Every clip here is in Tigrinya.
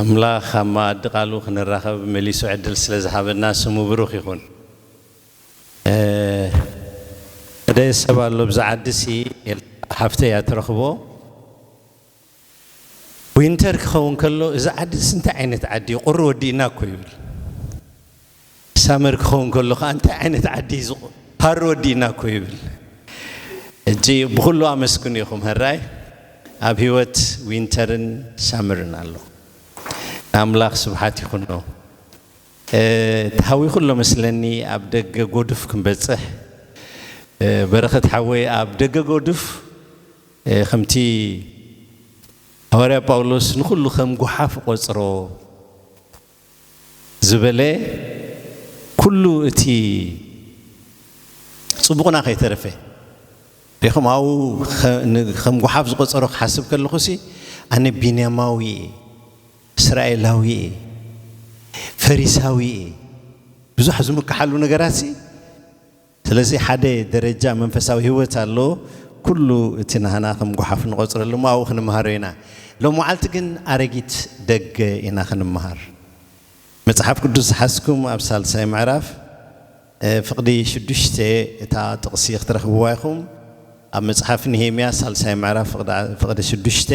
ኣምላኽ ኣብ መኣዲ ቃሉ ክንራኸብ መሊሱ ዕድል ስለ ዝሃበና ስሙ ብሩኽ ይኹን። ሓደ ሰብ ኣሎ ኣብዛ ዓዲሲ ኤልሳ ሓፍተይ እያ ትረኽቦ ዊንተር ክኸውን ከሎ እዚ ዓዲ እንታይ ዓይነት ዓዲ እዩ ቁሪ ወዲእና እኮ ይብል። ሳመር ክኸውን ከሎ ከኣ እንታይ ዓይነት ዓዲ ኢዩ ሃሩ ወዲእና እኮ ይብል ሕጂ ብኹሉ ኣመስግኑ ኢኹም ሀራይ ኣብ ህይወት ዊንተርን ሳመርን ኣሎ ንኣምላኽ ስብሓት ይኹኖ ተሃዊኹ ኣሎ መስለኒ ኣብ ደገ ጎዱፍ ክንበጽሕ በረኸት ሓወይ ኣብ ደገ ጎዱፍ ከምቲ ሃዋርያ ጳውሎስ ንኹሉ ከም ጉሓፍ ቆጽሮ ዝበለ ኩሉ እቲ ጽቡቕና ከይተረፈ ዲኹም ኣብኡ ከም ጉሓፍ ዝቆጸሮ ክሓስብ ከለኹሲ ኣነ ቢንያማዊ እየ እስራኤላዊ እየ ፈሪሳዊ እየ ብዙሕ ዝምክሓሉ ነገራትሲ ስለዚ ሓደ ደረጃ መንፈሳዊ ህይወት ኣሎ፣ ኩሉ እቲ ናህና ከም ጎሓፍ ንቆጽረሉ እሞ ኣብኡ ክንምሃሮ ኢና። ሎም መዓልቲ ግን ኣረጊት ደገ ኢና ክንምሃር። መጽሓፍ ቅዱስ ዝሓዝኩም ኣብ ሳልሳይ ምዕራፍ ፍቕዲ ሽዱሽተ እታ ጥቕሲ ክትረኽብዋ ኢኹም። ኣብ መጽሓፍ ንሄምያ ሳልሳይ ምዕራፍ ፍቕዲ ሽዱሽተ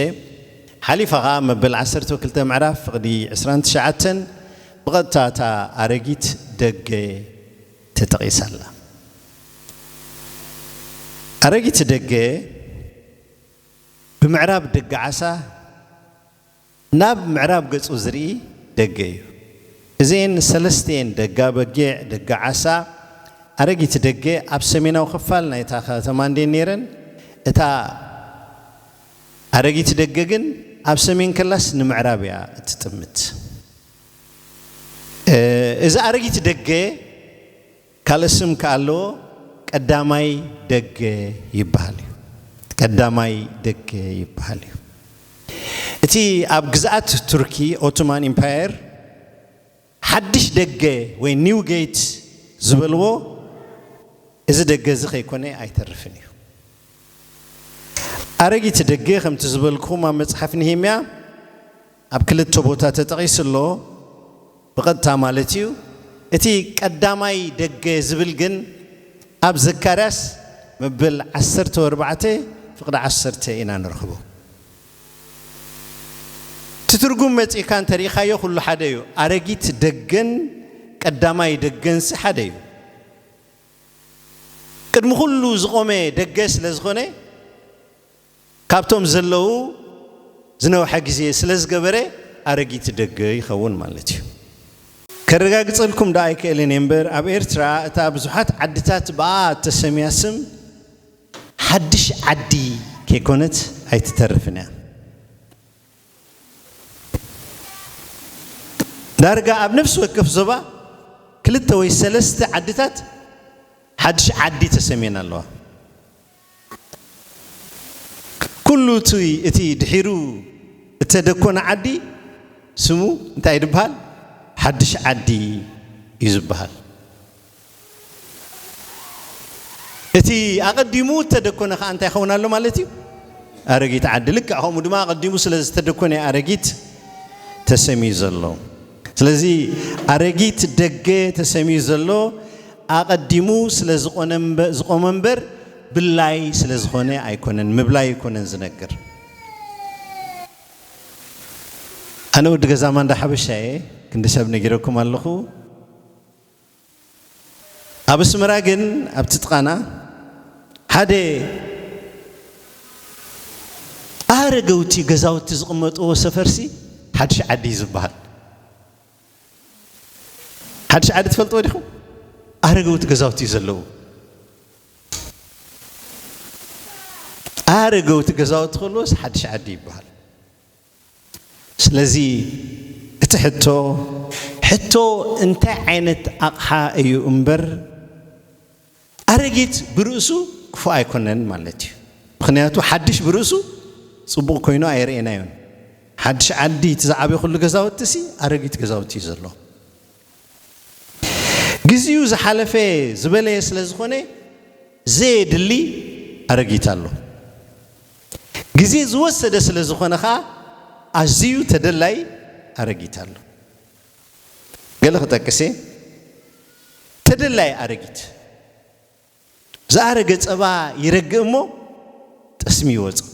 ሓሊፋ ከኣ መበል ዓሰርተው ክልተ ምዕራፍ ፍቕዲ ዕስራን ትሽዓተን ብቐጥታ እታ ኣረጊት ደገ ተጠቒሳ ኣላ። ኣረጊት ደገ ብምዕራብ ደገ ዓሳ ናብ ምዕራብ ገጹ ዝርኢ ደገ እዩ። እዚኤን ሰለስቲኤን ደጋ በጊዕ፣ ደጋ ዓሳ፣ ኣረጊት ደገ ኣብ ሰሜናዊ ክፋል ናይታ ከተማ እንድየን ነይረን። እታ ኣረጊት ደገ ግን ኣብ ሰሜን ከላስ ንምዕራብ እያ እትጥምት። እዚ ኣረጊት ደገ ካልእ ስም ከኣ ኣለዎ፣ ቀዳማይ ደገ ይበሃል እዩ። ቀዳማይ ደገ ይበሃል እዩ። እቲ ኣብ ግዝኣት ቱርኪ ኦቶማን ኢምፓየር ሓድሽ ደገ ወይ ኒው ጌት ዝበልዎ እዚ ደገ እዚ ከይኮነ ኣይተርፍን እዩ። ኣረጊት ደገ ከምቲ ዝበልክኹም ኣብ መጽሓፍ ነሄምያ ኣብ ክልተ ቦታ ተጠቒሱ ኣሎ ብቐጥታ ማለት እዩ። እቲ ቀዳማይ ደገ ዝብል ግን ኣብ ዘካርያስ መበል ዓሰርተው ኣርባዕተ ፍቕዲ ዓሰርተ ኢና ንረኽቦ። እቲ ትርጉም መጺእካ እንተ ርኢኻዮ ኩሉ ሓደ እዩ። ኣረጊት ደገን ቀዳማይ ደገንሲ ሓደ እዩ። ቅድሚ ኩሉ ዝቖመ ደገ ስለ ዝኾነ ካብቶም ዘለዉ ዝነውሐ ግዜ ስለ ዝገበረ ኣረጊት ደገ ይኸውን ማለት እዩ። ከረጋግጸልኩም ደኣ ኣይክእልን እየ እምበር ኣብ ኤርትራ እታ ብዙሓት ዓድታት ብኣኣ እተሰምያ ስም ሓድሽ ዓዲ ከይኮነት ኣይትተርፍን እያ። ዳርጋ ኣብ ነፍሲ ወከፍ ዞባ ክልተ ወይ ሰለስተ ዓድታት ሓድሽ ዓዲ ተሰምየን ኣለዋ። ኩሉ እቲ ድሒሩ እተደኮነ ዓዲ ስሙ እንታይ ድበሃል? ሓድሽ ዓዲ እዩ ዝበሃል። እቲ ኣቐዲሙ እተደኮነ ከኣ እንታይ ይኸውን ኣሎ ማለት እዩ? ኣረጊት ዓዲ። ልክዕ ከምኡ ድማ ኣቐዲሙ ስለ ዝተደኮነ እዩ ኣረጊት ተሰምዩ ዘሎ። ስለዚ ኣረጊት ደገ ተሰምዩ ዘሎ ኣቐዲሙ ስለ ዝቖመ እምበር ብላይ ስለ ዝኾነ ኣይኮነን፣ ምብላይ ኣይኮነን ዝነግር። ኣነ ወዲ ገዛ ማንዳ ሓበሻ እየ፣ ክንዲ ሰብ ነጊረኩም ኣለኹ። ኣብ ኣስመራ ግን ኣብቲ ጥቓና ሓደ ኣረገውቲ ገዛውቲ ዝቕመጥዎ ሰፈርሲ ሓድሽ ዓዲ እዩ ዝበሃል። ሓድሽ ዓዲ ትፈልጥዎ ዲኹም? ኣረገውቲ ገዛውቲ እዩ ዘለዎ። ኣረገውቲ ገዛውቲ ከለዎስ ሓድሽ ዓዲ ይበሃል። ስለዚ እቲ ሕቶ ሕቶ እንታይ ዓይነት ኣቕሓ እዩ እምበር ኣረጊት ብርእሱ ክፉእ ኣይኮነን ማለት እዩ። ምኽንያቱ ሓድሽ ብርእሱ ጽቡቕ ኮይኑ ኣይርኤናዮን። ሓድሽ ዓዲ እቲ ዝዓበኹሉ ገዛውቲሲ ኣረጊት ገዛውቲ እዩ ዘሎ። ግዚኡ ዝሓለፈ ዝበለየ ስለዝኾነ ዘየድሊ ኣረጊት ኣሎ። ግዜ ዝወሰደ ስለ ዝኾነ ከኣ ኣዚዩ ተደላዪ ኣረጊት ኣሎ። ገለ ክጠቅስ እየ፣ ተደላዪ ኣረጊት፣ ዝኣረገ ጸባ ይረግእ እሞ ጠስሚ ይወጽእ፣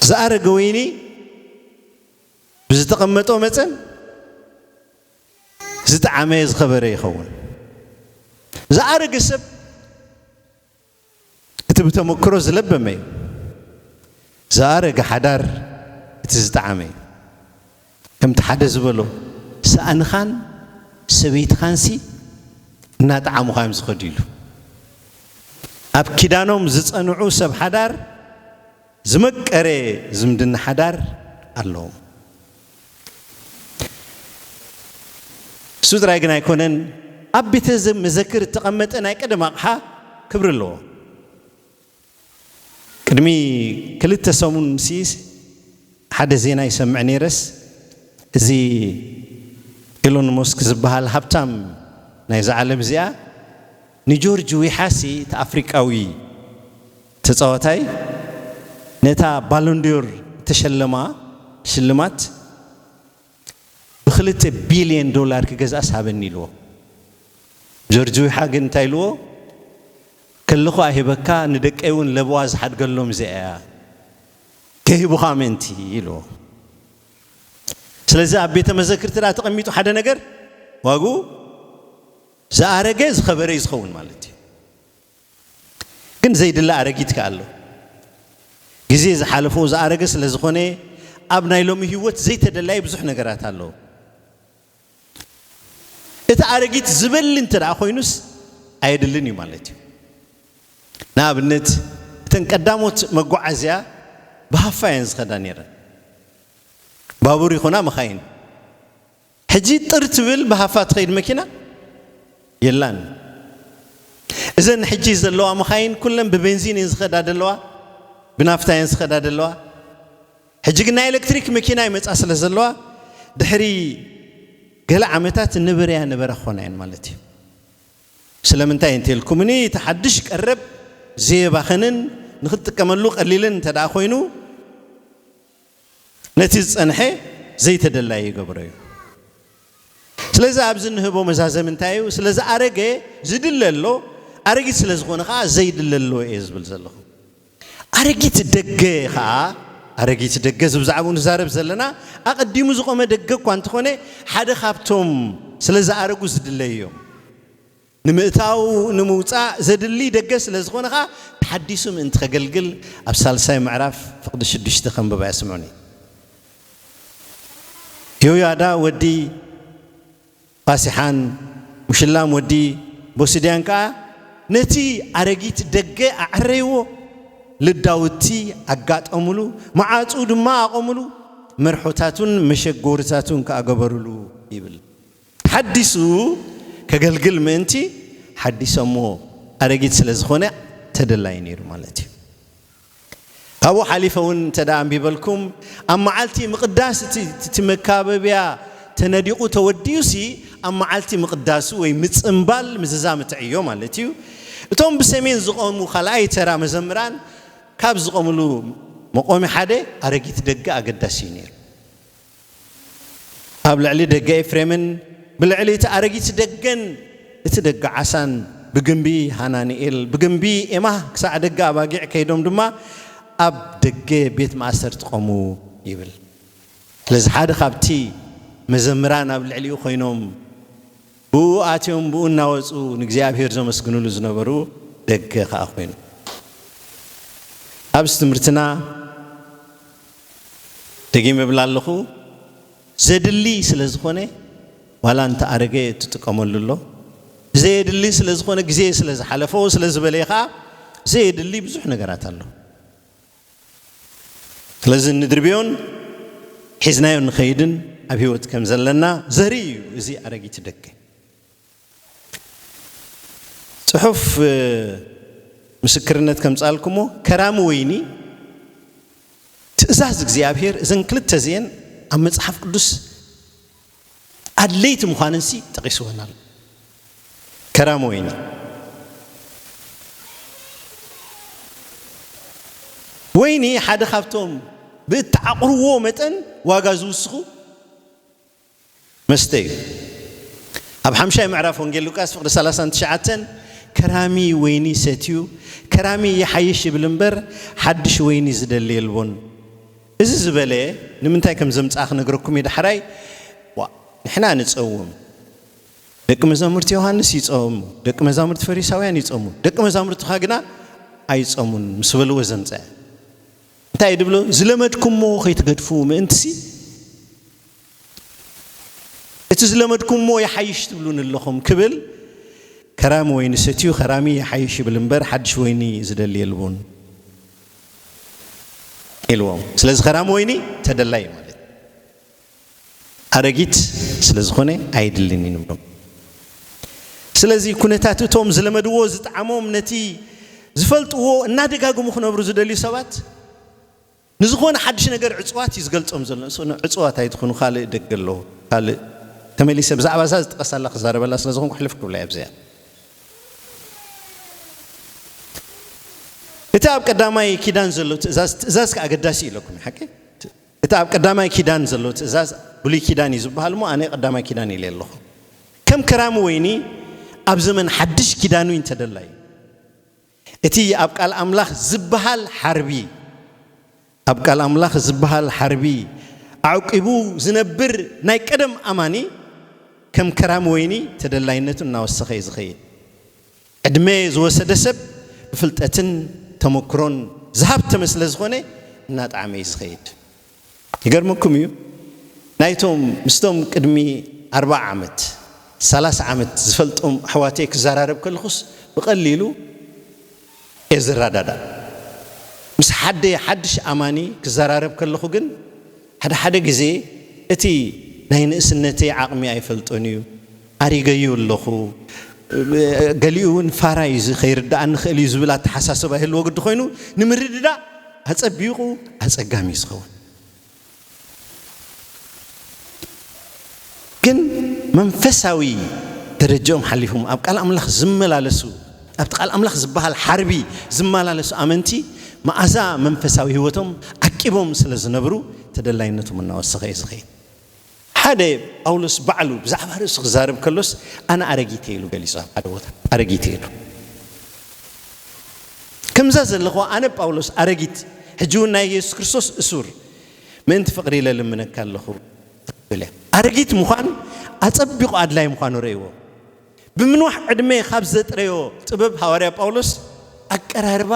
ዝኣረገ ወይኒ ብዝተቐመጦ መጠን ዝጠዓመ ዝኸበረ ይኸውን፣ ዝኣረገ ሰብ፣ እቲ ብተመክሮ ዝለበመ እዩ። ዝኣረገ ሓዳር እቲ ዝጠዓመ እዩ። ከምቲ ሓደ ዝበሎ ሳእንኻን ሰበይትኻንሲ እናጠዓሙኻ እዮም ዝኸዱ ኢሉ። ኣብ ኪዳኖም ዝጸንዑ ሰብ ሓዳር ዝመቀረ ዝምድና ሓዳር ኣለዎም። እሱ ጥራይ ግን ኣይኮነን፣ ኣብ ቤተ መዘክር እተቐመጠ ናይ ቀደም ኣቕሓ ክብሪ ኣለዎ። ቅድሚ ክልተ ሰሙን ምስ ሓደ ዜና ይሰምዕ ነይረስ እዚ ኤሎን ሞስክ ዝበሃል ሃብታም ናይዛ ዓለም እዚኣ ንጆርጅ ዊሓሲ እቲ ኣፍሪቃዊ ተጻዋታይ ነታ ባሎንድዮር እተሸለማ ሽልማት ብክልተ ቢልየን ዶላር ክገዝኣስ ሃበኒ ኢልዎ። ጆርጅ ዊሓ ግን እንታይ ኢልዎ፣ ከለኹ ኣይህበካ ንደቀይ እውን ለበዋ ዝሓድገሎም እዚኣ እያ፣ ከይህቡኻ ምእንቲ ኢልዎ። ስለዚ ኣብ ቤተ መዘክርቲ ደኣ ተቐሚጡ ሓደ ነገር ዋግኡ ዝኣረገ ዝኸበረ እዩ ዝኸውን ማለት እዩ። ግን ዘይድለ ኣረጊት ከኣ ኣሎ። ግዜ ዝሓለፎ ዝኣረገ ስለ ዝኾነ ኣብ ናይ ሎሚ ህይወት ዘይተደላዪ ብዙሕ ነገራት ኣሎ። እቲ ኣረጊት ዝበሊ እንተደኣ ኮይኑስ ኣየድልን እዩ ማለት እዩ። ንኣብነት እተን ቀዳሞት መጓዓዝያ ብሃፋ እየን ዝኸዳ ነይረን። ባቡር ይኹና መኻይን። ሕጂ ጥር ትብል ብሃፋ ትኸይድ መኪና የላን። እዘን ሕጂ ዘለዋ መኻይን ኩለን ብቤንዚን እየን ዝኸዳ ዘለዋ፣ ብናፍታ እየን ዝኸዳ ዘለዋ። ሕጂ ግን ናይ ኤለክትሪክ መኪና ይመጻ ስለ ዘለዋ ድሕሪ ገለ ዓመታት ንብርያ ንበራ ክኾና እየን ማለት እዩ። ስለምንታይ እንተልኩምኒ እቲ ሓድሽ ቀረብ ዘየባኽንን ንኽትጥቀመሉ ቀሊልን እንተደኣ ኮይኑ፣ ነቲ ዝጸንሐ ዘይተደላየ ይገብሮ እዩ። ስለዚ ኣብዚ እንህቦ መዛዘሚ እንታይ እዩ? ስለ ዝኣረገ ዝድለ ኣሎ፣ ኣረጊት ስለ ዝኾነ ከኣ ዘይድለ ኣሎ እየ ዝብል ዘለኹ። ኣረጊት ደገ ከኣ ኣረጊት ደገ እዚ ብዛዕባኡ ንዛረብ ዘለና ኣቐዲሙ ዝቖመ ደገ እኳ እንተኾነ ሓደ ካብቶም ስለ ዝኣረጉ ዝድለዩ እዮም። ንምእታው ንምውጻእ ዘድሊ ደገ ስለ ዝኾነ ከኣ ተሓዲሱ ምእንቲ ከገልግል ኣብ ሳልሳይ ምዕራፍ ፍቕዲ ሽዱሽተ ከንብብ እያ ስምዑኒ። ዮያዳ ወዲ ፓሴሓን ሙሽላም ወዲ ቦሲድያን ከኣ ነቲ ኣረጊት ደገ ኣዐረይዎ፣ ልዳውቲ ኣጋጠሙሉ፣ መዓጹኡ ድማ ኣቖሙሉ፣ መርሖታቱን መሸጎሪታቱን ከኣ ገበሩሉ ይብል። ተሓዲሱ ከገልግል ምእንቲ ሓዲሰሞ ኣረጊት ስለ ዝኾነ ተደላዩ ነይሩ ማለት እዩ። ካብኡ ሓሊፈ እውን እንተ ኣንቢበልኩም ኣብ መዓልቲ ምቕዳስ እቲ መካበቢያ ተነዲቑ ተወዲኡሲ ኣብ መዓልቲ ምቕዳሱ ወይ ምፅምባል ምዝዛም እቲ ዕዮ ማለት እዩ እቶም ብሰሜን ዝቖሙ ካልኣይ ተራ መዘምራን ካብ ዝቖምሉ መቆሚ ሓደ ኣረጊት ደገ ኣገዳሲ እዩ ነይሩ። ኣብ ልዕሊ ደገ ኤፍሬምን ብልዕሊ እቲ ኣረጊት ደገን እቲ ደገ ዓሳን ብግምቢ ሃናንኤል ብግምቢ ኤማህ ክሳዕ ደገ ኣባጊዕ ከይዶም ድማ ኣብ ደገ ቤት ማእሰርቲ ቆሙ ይብል። ስለዚ ሓደ ካብቲ መዘምራን ኣብ ልዕሊኡ ኮይኖም ብእኡ ኣትዮም ብእኡ እናወጹ ንእግዚኣብሔር ዘመስግንሉ ዝነበሩ ደገ ከኣ ኮይኑ ኣብዚ ትምህርትና ደጊመ እብል ኣለኹ ዘድሊ ስለ ዝኾነ ዋላ እንተ ኣረገ ትጥቀመሉ ኣሎ ዘየድሊ ስለ ዝኾነ ግዜ ስለ ዝሓለፎ ስለ ዝበለየ ኸኣ ዘየድሊ ብዙሕ ነገራት ኣሎ ስለዚ ንድርብዮን ሒዝናዮ ንኸይድን ኣብ ህይወት ከም ዘለና ዘርኢ እዩ እዚ ኣረጊት ደገ ጽሑፍ ምስክርነት ከምጽኣልኩሞ ከራሚ ወይኒ ትእዛዝ እግዚኣብሔር እዘን ክልተ እዚኤን ኣብ መጽሓፍ ቅዱስ ኣድለይቲ ምዃነንሲ ጠቒስወን ኣሎ ከራሚ ወይኒ ወይኒ ሓደ ካብቶም ብእተዓቑርዎ መጠን ዋጋ ዝውስኹ መስተ እዩ። ኣብ ሓምሻይ ምዕራፍ ወንጌል ሉቃስ ፍቅዲ ሰላሳን ትሽዓተን ከራሚ ወይኒ ሰትዩ ከራሚ ይሓይሽ ይብል እምበር ሓድሽ ወይኒ ዝደሊ የልቦን እዚ ዝበለ ንምንታይ ከም ዘምጽኣ ክነግረኩም እዩ ዳሕራይ ንሕና ንጸውም ደቂ መዛሙርቲ ዮሃንስ ይጸሙ ደቂ መዛሙርቲ ፈሪሳውያን ይጸሙ ደቂ መዛሙርትኻ ግና ኣይጸሙን ምስ በልዎ ዘምጽአ እንታይ ድብሎ ዝለመድኩምዎ ከይትገድፉ ምእንትሲ እቲ ዝለመድኩምዎ ይሓይሽ ትብሉኒ ኣለኹም ክብል ከራሚ ወይኒ ሰትዩ ከራሚ ይሓይሽ ይብል እምበር ሓድሽ ወይኒ ዝደሊ የልቡን ኢልዎም። ስለዚ ከራሚ ወይኒ ተደላይ እዩ ማለት ኣረጊት ስለ ዝኾነ ኣይድልን እዩ ንብሎም። ስለዚ ኩነታት እቶም ዝለመድዎ ዝጠዓሞም ነቲ ዝፈልጥዎ እናደጋግሙ ክነብሩ ዝደልዩ ሰባት ንዝኾነ ሓድሽ ነገር ዕጽዋት እዩ ዝገልጾም ዘሎ ንሱ ን ዕጽዋት ኣይትኹኑ ካልእ ደገ ኣሎ ካልእ ተመሊሰ ብዛዕባ እዛ ዝጠቐሳላ ክዛረበላ ስለ ዝኾንኩ ሕልፍ ክብላ ኣብዚኣ እቲ ኣብ ቀዳማይ ኪዳን ዘሎ ትእዛዝ ትእዛዝ ከ ኣገዳሲ እዩ ኢለኩም ሓቂ እቲ ኣብ ቀዳማይ ኪዳን ዘሎ ትእዛዝ ብሉይ ኪዳን እዩ ዝበሃል እሞ ኣነ ቀዳማይ ኪዳን ኢለ ኣለኹ ከም ከራሚ ወይኒ ኣብ ዘመን ሓድሽ ኪዳኑ እንተደላ እዩ እቲ ኣብ ቃል ኣምላኽ ዝበሃል ሓርቢ ኣብ ቃል ኣምላኽ ዝበሃል ሓርቢ ኣዕቂቡ ዝነብር ናይ ቀደም ኣማኒ ከም ከራሚ ወይኒ ተደላይነቱ እናወሰኸ እዩ ዝኸይድ። ዕድመ ዝወሰደ ሰብ ብፍልጠትን ተመክሮን ዝሃብተመ ስለ ዝኾነ እናጠዓመ እዩ ዝኸይድ። ይገርመኩም እዩ ናይቶም ምስቶም ቅድሚ ኣርብዓ ዓመት ሰላሳ ዓመት ዝፈልጦም ኣሕዋተይ ክዘራረብ ከለኹስ ብቀሊሉ እየ ዝረዳዳእ ምስ ሓደ ሓድሽ ኣማኒ ክዘራረብ ከለኹ ግን ሓደ ሓደ ግዜ እቲ ናይ ንእስነተይ ዓቅሚ ኣይፈልጦን እዩ ኣሪገዩ ኣለኹ፣ ገሊኡ እውን ፋራ እዩ፣ እዚ ከይርደኣኒ ይኽእል እዩ ዝብል ኣተሓሳስባ ይህልዎ ግዲ ኮይኑ ንምርድዳእ ኣጸቢቑ ኣጸጋሚ እዩ ዝኸውን። ግን መንፈሳዊ ደረጃኦም ሓሊፎም ኣብ ቃል ኣምላኽ ዝመላለሱ ኣብቲ ቃል ኣምላኽ ዝበሃል ሓርቢ ዝመላለሱ ኣመንቲ መኣዛ መንፈሳዊ ህይወቶም ዓቂቦም ስለ ዝነብሩ ተደላይነቶም እናወሰኸ እዩ ዝኸይድ። ሓደ ጳውሎስ ባዕሉ ብዛዕባ ርእሱ ክዛረብ ከሎስ ኣነ ኣረጊት እየ ኢሉ ገሊጹ ኣብ ሓደ ቦታ ኣረጊት እየ ኢሉ ከምዛ ዘለኹዋ ኣነ ጳውሎስ ኣረጊት ሕጂ እውን ናይ የሱስ ክርስቶስ እሱር ምእንቲ ፍቕሪ ኢለ ልምነካ ኣለኹ ትብል እያ ኣረጊት ምዃን ኣጸቢቑ ኣድላይ ምዃኑ ረእይዎ ብምንዋሕ ዕድመ ካብ ዘጥረዮ ጥበብ ሃዋርያ ጳውሎስ ኣቀራርባ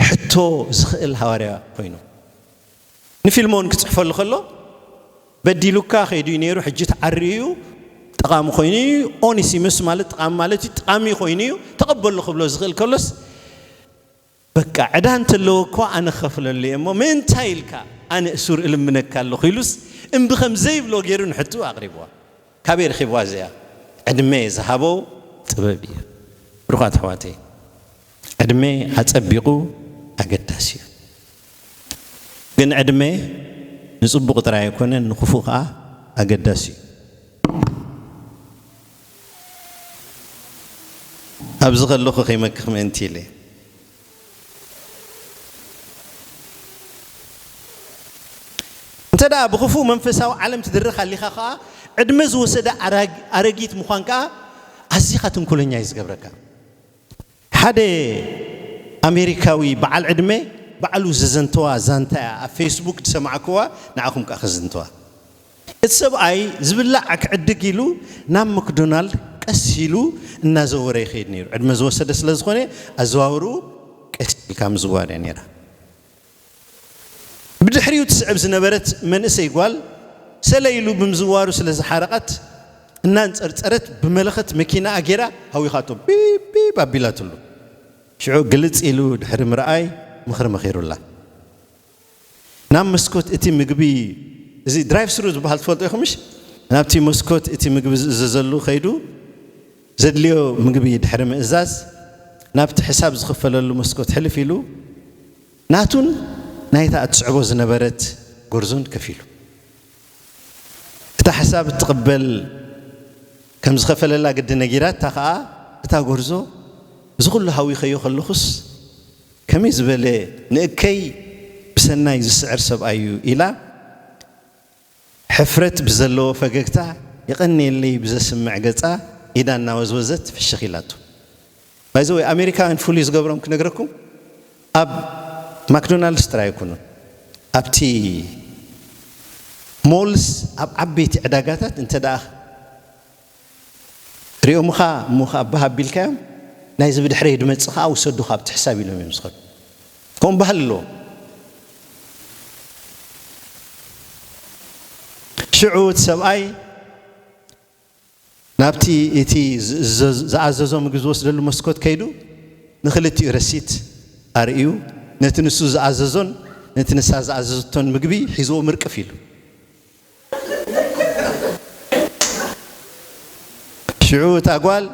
ሕቶ ዝኽእል ሃዋርያ ኮይኑ ንፊልሞን ክጽሕፈሉ ከሎ በዲሉካ ከይዱ እዩ ነይሩ ሕጂ ተዓርዩ እዩ ጠቓሚ ኮይኑ እዩ ኦኒሲምስ ማለት ጠቓሚ ማለት እዩ ጠቓሚ ኮይኑ እዩ ተቐበሉ ክብሎ ዝኽእል ከሎስ በቃ ዕዳ እንተለዎ እኮ ኣነ ከፍለሉ እየ እሞ ምእንታይ ኢልካ ኣነ እሱር እልምነካ ኣለኹ ኢሉስ እምቢ ከም ዘይብሎ ገይሩ ንሕቱ ኣቕሪብዋ ካበይ ረኺብዋ እዚኣ ዕድመ ዝሃቦ ጥበብ እዩ ብሩኻት ኣሕዋተይ ዕድመ ኣጸቢቑ ኣገዳሲ እዩ። ግን ዕድመ ንጽቡቕ ጥራይ ኣይኮነን ንክፉእ ከኣ ኣገዳሲ እዩ። ኣብዚ ከለኹ ከይመክኽ ምእንቲ ኢለ። እንተደኣ ብክፉእ መንፈሳዊ ዓለም ትድረኽ ኣሊኻ ከኣ ዕድመ ዝወሰደ ኣረጊት ምዃን ከኣ ኣዚኻ ተንኮለኛ እዩ ዝገብረካ። ሓደ ኣሜሪካዊ በዓል ዕድመ ባዕሉ ዘዘንተዋ ዛንታ እያ ኣብ ፌስቡክ ዝሰማዕኩዋ ንዓኹም ከኣ ከዝንትዋ። እቲ ሰብኣይ ዝብላዕ ክዕድግ ኢሉ ናብ መክዶናልድ ቀስ ኢሉ እናዘወረ ይኸይድ ነይሩ። ዕድመ ዝወሰደ ስለዝኾነ ኣዘዋውርኡ ቀስ ኢልካ ምዝዋር እያ ነይራ። ብድሕሪኡ ትስዕብ ዝነበረት መንእሰይ ጓል ሰለ ኢሉ ብምዝዋሩ ስለ ዝሓረቓት እናንጸርጸረት ብመለኸት መኪናኣ ጌራ ሃዊኻቶ ቢብ ቢብ ኣቢላትሉ። ሽዑ ግልጽ ኢሉ ድሕሪ ምርኣይ ምኽሪ መኺሩላ። ናብ መስኮት እቲ ምግቢ እዚ ድራይቭ ስሩ ዝበሃል ትፈልጡ ኢኹምሽ? ናብቲ መስኮት እቲ ምግቢ ዝእዘዘሉ ከይዱ፣ ዘድልዮ ምግቢ ድሕሪ ምእዛዝ ናብቲ ሕሳብ ዝኽፈለሉ መስኮት ሕልፍ ኢሉ ናቱን ናይታ እትስዕቦ ዝነበረት ጎርዞን ከፊሉ። እታ ሕሳብ እትቕበል ከም ዝኸፈለላ ግዲ ነጊራታ ከኣ እታ ጎርዞ እዚ ኩሉ ሃዊኸዮ ከለኹስ ከመይ ዝበለ ንእከይ ብሰናይ ዝስዕር ሰብኣይ'ዩ ኢላ ሕፍረት ብዘለዎ ፈገግታ የቐንየለይ ብዘስምዕ ገጻ ኢዳ እናወዝወዘት ፍሽኽ ኢላቶ። ባይ ዘ ዌይ ኣሜሪካውያን ፍሉይ ዝገብሮም ክነግረኩም ኣብ ማክዶናልድስ ጥራይ ኣይኮኑን ኣብቲ ሞልስ ኣብ ዓበይቲ ዕዳጋታት እንተደኣ ሪኦምኻ እሞ ኸኣ ባህ ኣቢልካዮም ናይዚ ብድሕረይ ድመጽእ ኸኣ ውሰዱ ካብቲ ሕሳብ ኢሎም እዮም ዝኸዱ ከምኡ ባህሊ ኣለዎም ሽዑ እቲ ሰብኣይ ናብቲ እቲ ዝኣዘዞ ምግቢ ዝወስደሉ መስኮት ከይዱ ንክልቲኡ ረሲት ኣርእዩ ነቲ ንሱ ዝኣዘዞን ነቲ ንሳ ዝኣዘዘቶን ምግቢ ሒዝዎ ምርቅፍ ኢሉ ሽዑ እታ ጓል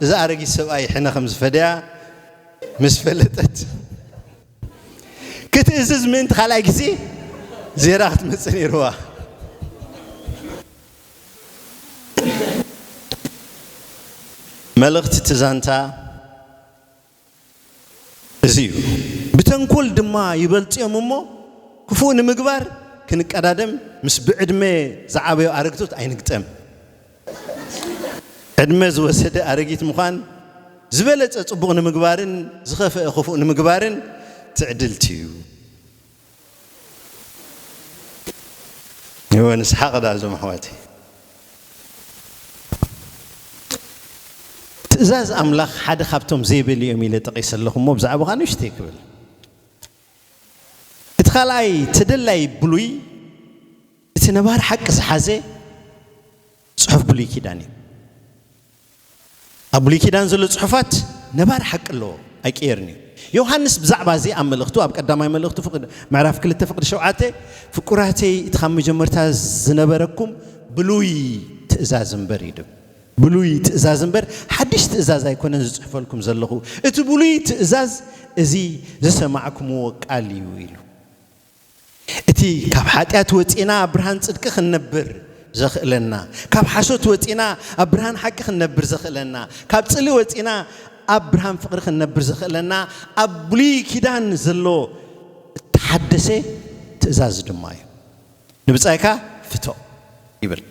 እዚ ኣረጊት ሰብኣይ ሕነ ከም ዝፈደያ ምስ ፈለጠት፣ ክትእዝዝ ምእንቲ ካልኣይ ግዜ ዜራ ክትመጽእ ነይርዋ። መልእኽቲ እቲ ዛንታ፣ እዚ እዩ ብተንኮል ድማ ይበልጽ እዮም እሞ ክፉእ ንምግባር ክንቀዳደም ምስ ብዕድመ ዝዓበዩ ኣረግቶት ኣይንግጠም። ዕድመ ዝወሰደ ኣረጊት ምዃን ዝበለጸ ጽቡቕ ንምግባርን ዝኸፈኣ ክፉእ ንምግባርን ትዕድልቲ እዩ። እወ ንስሓቕ ደኣ እዞም ኣሕዋተይ። ትእዛዝ ኣምላኽ ሓደ ካብቶም ዘይበሉ እዮም ኢለ ጠቒሰ ኣለኹ እሞ ብዛዕባኻ ንእሽተይ ክብል እቲ ካልኣይ ተደላይ ብሉይ እቲ ነባሪ ሓቂ ዝሓዘ ጽሑፍ ብሉይ ኪዳን እዩ። ኣብ ብሉይ ኪዳን ዘሎ ጽሑፋት ነባሪ ሓቂ ኣለዎ ኣይቅየርን እዩ። ዮሃንስ ብዛዕባ እዚ ኣብ መልእኽቱ ኣብ ቀዳማይ መልእኽቱ ፍቅድ ምዕራፍ ክልተ ፍቅዲ ሸውዓተ ፍቁራተይ እቲ ካብ መጀመርታ ዝነበረኩም ብሉይ ትእዛዝ እምበር እዩ ድብ ብሉይ ትእዛዝ እምበር ሓድሽ ትእዛዝ ኣይኮነን ዝጽሕፈልኩም ዘለኹ እቲ ብሉይ ትእዛዝ እዚ ዝሰማዕኩምዎ ቃል እዩ ኢሉ እቲ ካብ ሓጢኣት ወጺእና ኣብ ብርሃን ጽድቂ ክንነብር ዘኽእለና፣ ካብ ሓሶት ወጺእና ኣብ ብርሃን ሓቂ ክንነብር ዘኽእለና፣ ካብ ጽልኢ ወጺእና ኣብ ብርሃን ፍቕሪ ክንነብር ዘኽእለና ኣብ ብሉይ ኪዳን ዘሎ እተሓደሰ ትእዛዝ ድማ እዩ። ንብጻይካ ፍቶ ይብል።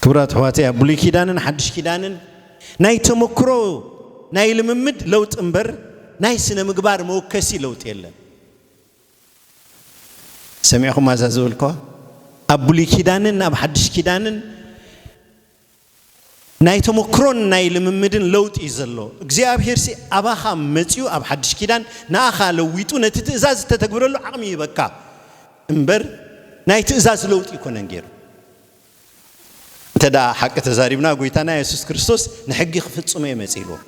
ክብራት ኣሕዋተይ ኣብ ብሉይ ኪዳንን ሓድሽ ኪዳንን ናይ ተመክሮ ናይ ልምምድ ለውጢ እምበር ናይ ስነ ምግባር መወከሲ ለውጢ የለን። ሰሚዕኹም ኣዛ ዝበልክዋ ኣብ ብሉይ ኪዳንን ኣብ ሓድሽ ኪዳንን ናይ ተመክሮን ናይ ልምምድን ለውጢ እዩ ዘሎ። እግዚኣብሔርሲ ኣባኻ መጺኡ ኣብ ሓድሽ ኪዳን ንኣኻ ለዊጡ ነቲ ትእዛዝ እተተግብረሉ ዓቕሚ ይህበካ እምበር ናይ ትእዛዝ ለውጢ ኣይኮነን ገይሩ። እንተ ደኣ ሓቂ ተዛሪብና ጎይታና የሱስ ክርስቶስ ንሕጊ ክፍጽሞ እየ መጺኡ ኢልዎ።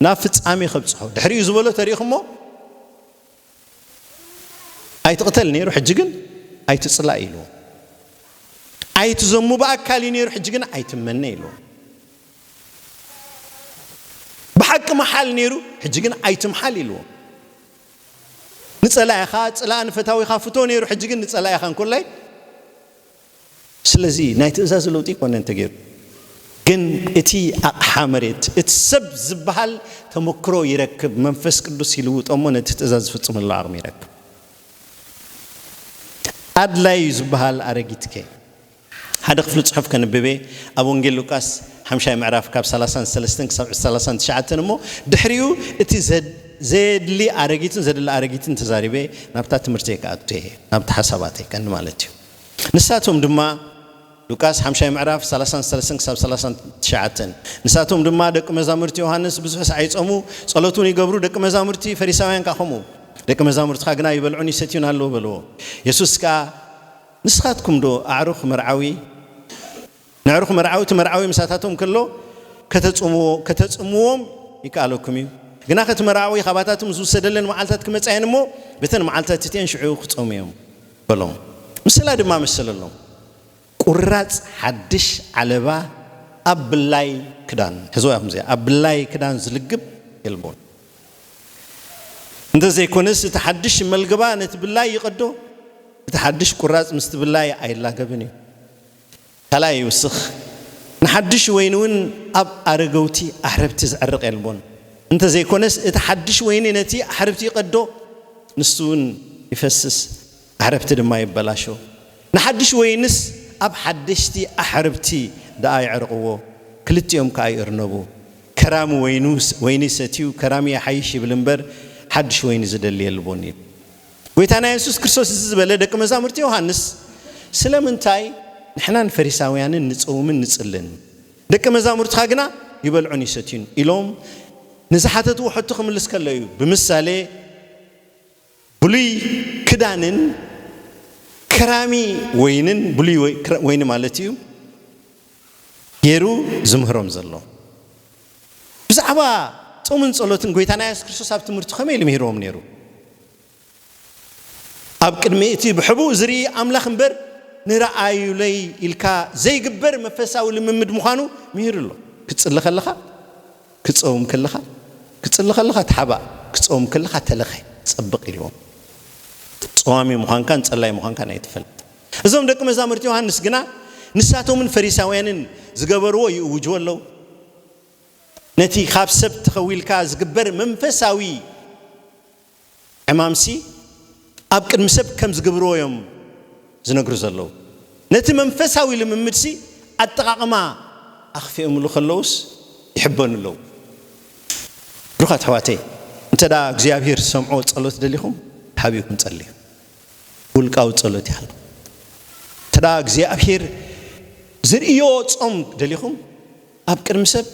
ናብ ፍጻሜ ከብጽሖ ድሕሪኡ ዝበሎ ተሪእኹሞ ኣይትቕተል ነይሩ ሕጂ ግን ኣይትጽላእ ኢሉ። ኣይትዘሙ ብኣካል እዩ ነይሩ ሕጂ ግን ኣይትመነ ኢሉ። ብሓቂ መሓል ነይሩ ሕጂ ግን ኣይትምሓል ኢሉ። ንጸላኢኻ ጽላእ ንፈታዊኻ ፍቶ ነይሩ ሕጂ ግን ንጸላኢኻ እንኮላይ ስለዚ ናይ ትእዛዝ ለውጢ ኮነ እንተገይሩ ግን እቲ ኣቕሓ መሬት እቲ ሰብ ዝበሃል ተመክሮ ይረክብ፣ መንፈስ ቅዱስ ይልውጦ እሞ ነቲ ትእዛዝ ዝፍጽመሉ ዓቕሚ ይረክብ። ኣድላዪ እዩ ዝበሃል ኣረጊትከ? ሓደ ክፍሊ ጽሑፍ ከንብብ'የ፣ ኣብ ወንጌል ሉቃስ ሓምሻይ ምዕራፍ ካብ ሰላሳን ሰለስተን ክሳብ ሰላሳን ትሽዓተን እሞ ድሕሪኡ እቲ ዘየድሊ ኣረጊትን ዘድሊ ኣረጊትን ተዛሪበ ናብታ ትምህርተይ ክኣቱ'የ፣ ናብቲ ሓሳባተይ ቀንዲ ማለት እዩ። ንሳቶም ድማ፣ ሉቃስ ሓምሻይ ምዕራፍ ሰላሳን ሰለስን ክሳብ ሰላሳን ትሽዓተን፣ ንሳቶም ድማ፣ ደቂ መዛሙርቲ ዮሃንስ ብዙሕ ሰዓይ ይጸሙ፣ ጸሎት ውን ይገብሩ፣ ደቂ መዛሙርቲ ፈሪሳውያን ከኣ ከምኡ፣ ደቂ መዛሙርትኻ ግና ይበልዑን ይሰትዩን ኣለዉ በልዎ። የሱስ ከኣ፣ ንስኻትኩምዶ ኣዕሩኽ መርዓዊ? ነዕርኹ መርዓውቲ መርዓዊ ምሳታቶም ከሎ ከተጽምዎ ከተጽምዎም ይከኣለኩም እዩ። ግናኸ እቲ መርዓዊ ኻባታቶም ዝውሰደለን መዓልትታት ክመጻ እየን እሞ፣ በተን መዓልትታት እቲኤን ሽዑ ክጸሙ እዮም። በሎም። ምስላ ድማ መሰለሎም። ቁራጽ ሓድሽ ዓለባ ኣብ ብላይ ክዳን፣ ሕዝዋ ኢኹም እዚኣ፣ ኣብ ብላይ ክዳን ዝልግብ የልቦን። እንተ ዘይኮነስ እቲ ሓድሽ መልገባ ነቲ ብላይ ይቐዶ፣ እቲ ሓድሽ ቁራጽ ምስቲ ብላይ ኣይላገብን እዩ። ካልኣይ ይውስኽ ንሓዱሽ ወይኒ ውን ኣብ ኣረገውቲ ኣሕርብቲ ዝዕርቕ የልቦን እንተ ዘይኮነስ እቲ ሓዱሽ ወይኒ ነቲ ኣሕርብቲ ይቐዶ ንሱ ውን ይፈስስ ኣሕርብቲ ድማ ይበላሾ ንሓዱሽ ወይንስ ኣብ ሓደሽቲ ኣሕርብቲ ደኣ የዕርቕዎ ክልቲኦም ከኣ ይእርነቡ ከራሚ ወይኒ ሰትዩ ከራሚ ይሓይሽ ይብል እምበር ሓዱሽ ወይኒ ዝደሊ የልቦን ኢሉ። ጐይታና የሱስ ክርስቶስ እዚ ዝበለ ደቂ መዛሙርቲ ዮሃንስ ስለምንታይ ንሕናን ፈሪሳውያንን ንጽውምን ንጽልን ደቂ መዛሙርትኻ ግና ይበልዑን ይሰትዩን ኢሎም ንዝሓተትዎ ሕቶ ክምልስ ከሎ እዩ ብምሳሌ ብሉይ ክዳንን ከራሚ ወይንን ብሉይ ወይኒ ማለት እዩ ገይሩ ዝምህሮም ዘሎ። ብዛዕባ ጾምን ጸሎትን ጐይታና የሱስ ክርስቶስ ኣብ ትምህርቱ ከመይ ኢሉ ምሂርዎም ነይሩ? ኣብ ቅድሚ እቲ ብሕቡእ ዝርኢ ኣምላኽ እምበር ንርኣዩለይ ኢልካ ዘይግበር መንፈሳዊ ልምምድ ምዃኑ ምሂሩ ኣሎ። ክትጽሊ ከለኻ፣ ክትጸውም ከለኻ፣ ክትጽሊ ከለኻ ተሓባእ፣ ክትጸውም ከለኻ ተለኸ፣ ጸብቕ ኢልዎም። ጸዋሚ ምዃንካን ጸላይ ምዃንካን ኣይተፈለጠን። እዞም ደቂ መዛሙርቲ ዮሃንስ ግና ንሳቶምን ፈሪሳውያንን ዝገበርዎ ይእውጅዎ ኣለዉ። ነቲ ኻብ ሰብ ተኸዊልካ ዚግበር መንፈሳዊ ዕማምሲ ኣብ ቅድሚ ሰብ ከም ዚግብርዎ እዮም ዚነግሩ ዘለዉ። ነቲ መንፈሳዊ ልምምድሲ ኣጠቓቕማ ኣኽፊኦምሉ ኸለዉስ ይሕበኑ ኣለዉ። ብሩኻት ኣሕዋተይ እንተ እግዚኣብሄር ዝሰምዖ ጸሎት ደሊኹም ሓቢርኩም ጸልዩ። ውልቃዊ ጸሎት ይሃልኩም እንተ እግዚኣብሄር ዝርእዮ ጾም ደሊኹም ኣብ ቅድሚ ሰብ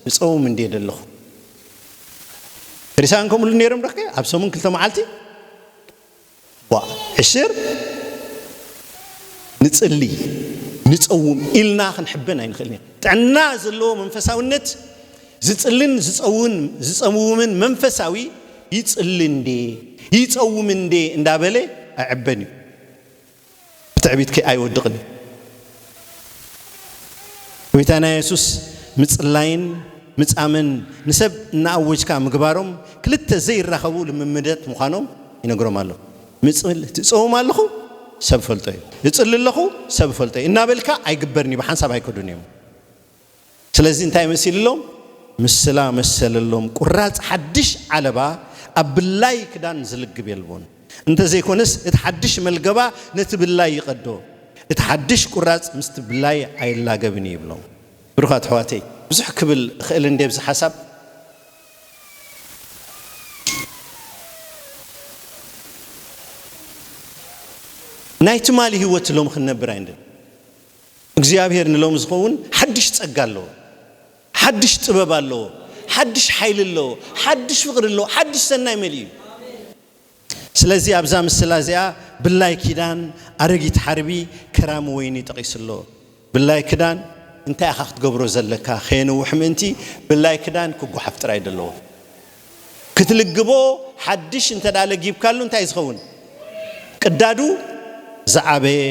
ክጸውም እንድየ ደለኹ ፈሪሳውያን ከምኡ ኢሉ ነይሮም ዶኸ ኣብ ሰሙን ክልተ መዓልቲ ዋ ዕሽር ንጽሊ ንጸውም ኢልና ክንሕበን ኣይንኽእልን ጥዕና ዘለዎ መንፈሳውነት ዝጽልን ዝጸውን ዝጸምውምን መንፈሳዊ ይጽሊ እንዴ ይጸውም እንዴ እንዳበለ ኣይዕበን እዩ ብትዕቢትኪ ኣይወድቕን እዩ ጎይታና የሱስ ምጽላይን ምጻምን ንሰብ እናኣወጅካ ምግባሮም ክልተ ዘይራኸቡ ልምምደት ምዃኖም ይነግሮም ኣሎ ምጽል ትጸውም ኣለኹ ሰብ ፈልጦ እዩ እጽሊ ኣለኹ ሰብ ፈልጦ እዩ እናበልካ ኣይግበርን እዩ ብሓንሳብ ኣይከዱን እዮም ስለዚ እንታይ መሲልሎም ምስላ መሰለሎም ቁራጽ ሓድሽ ዓለባ ኣብ ብላይ ክዳን ዝልግብ የልቦን እንተ ዘይኮነስ እቲ ሓድሽ መልገባ ነቲ ብላይ ይቀዶ እቲ ሓድሽ ቁራጽ ምስቲ ብላይ ኣይላገብን እዩ ይብሎም ብሩኻት ኣሕዋተይ ብዙሕ ክብል እኽእል እንድየ ኣብዚ ሓሳብ ናይ ትማሊ ህይወት ሎሚ ክንነብር ኣይንደልን እግዚኣብሄር ንሎሚ ዝኸውን ሓድሽ ጸጋ ኣለዎ። ሓድሽ ጥበብ ኣለዎ። ሓድሽ ሓይሊ ኣለዎ። ሓድሽ ፍቕሪ ኣለዎ። ሓድሽ ሰናይ መሊኡ እዩ። ስለዚ ኣብዛ ምስላ እዚኣ ብላይ ኪዳን፣ ኣረጊት ሓርቢ፣ ከራሚ ወይኒ ጠቒሱ ኣሎ። ብላይ ክዳን እንታይ ኢኻ ክትገብሮ ዘለካ ከየንውሕ ምእንቲ ብላይ ክዳን ክጎሓፍ ጥራይ እዩ ደለዎ። ክትልግቦ ሓድሽ እንተ ለጊብካሉ እንታይ ዝኸውን ቅዳዱ ዝዓበየ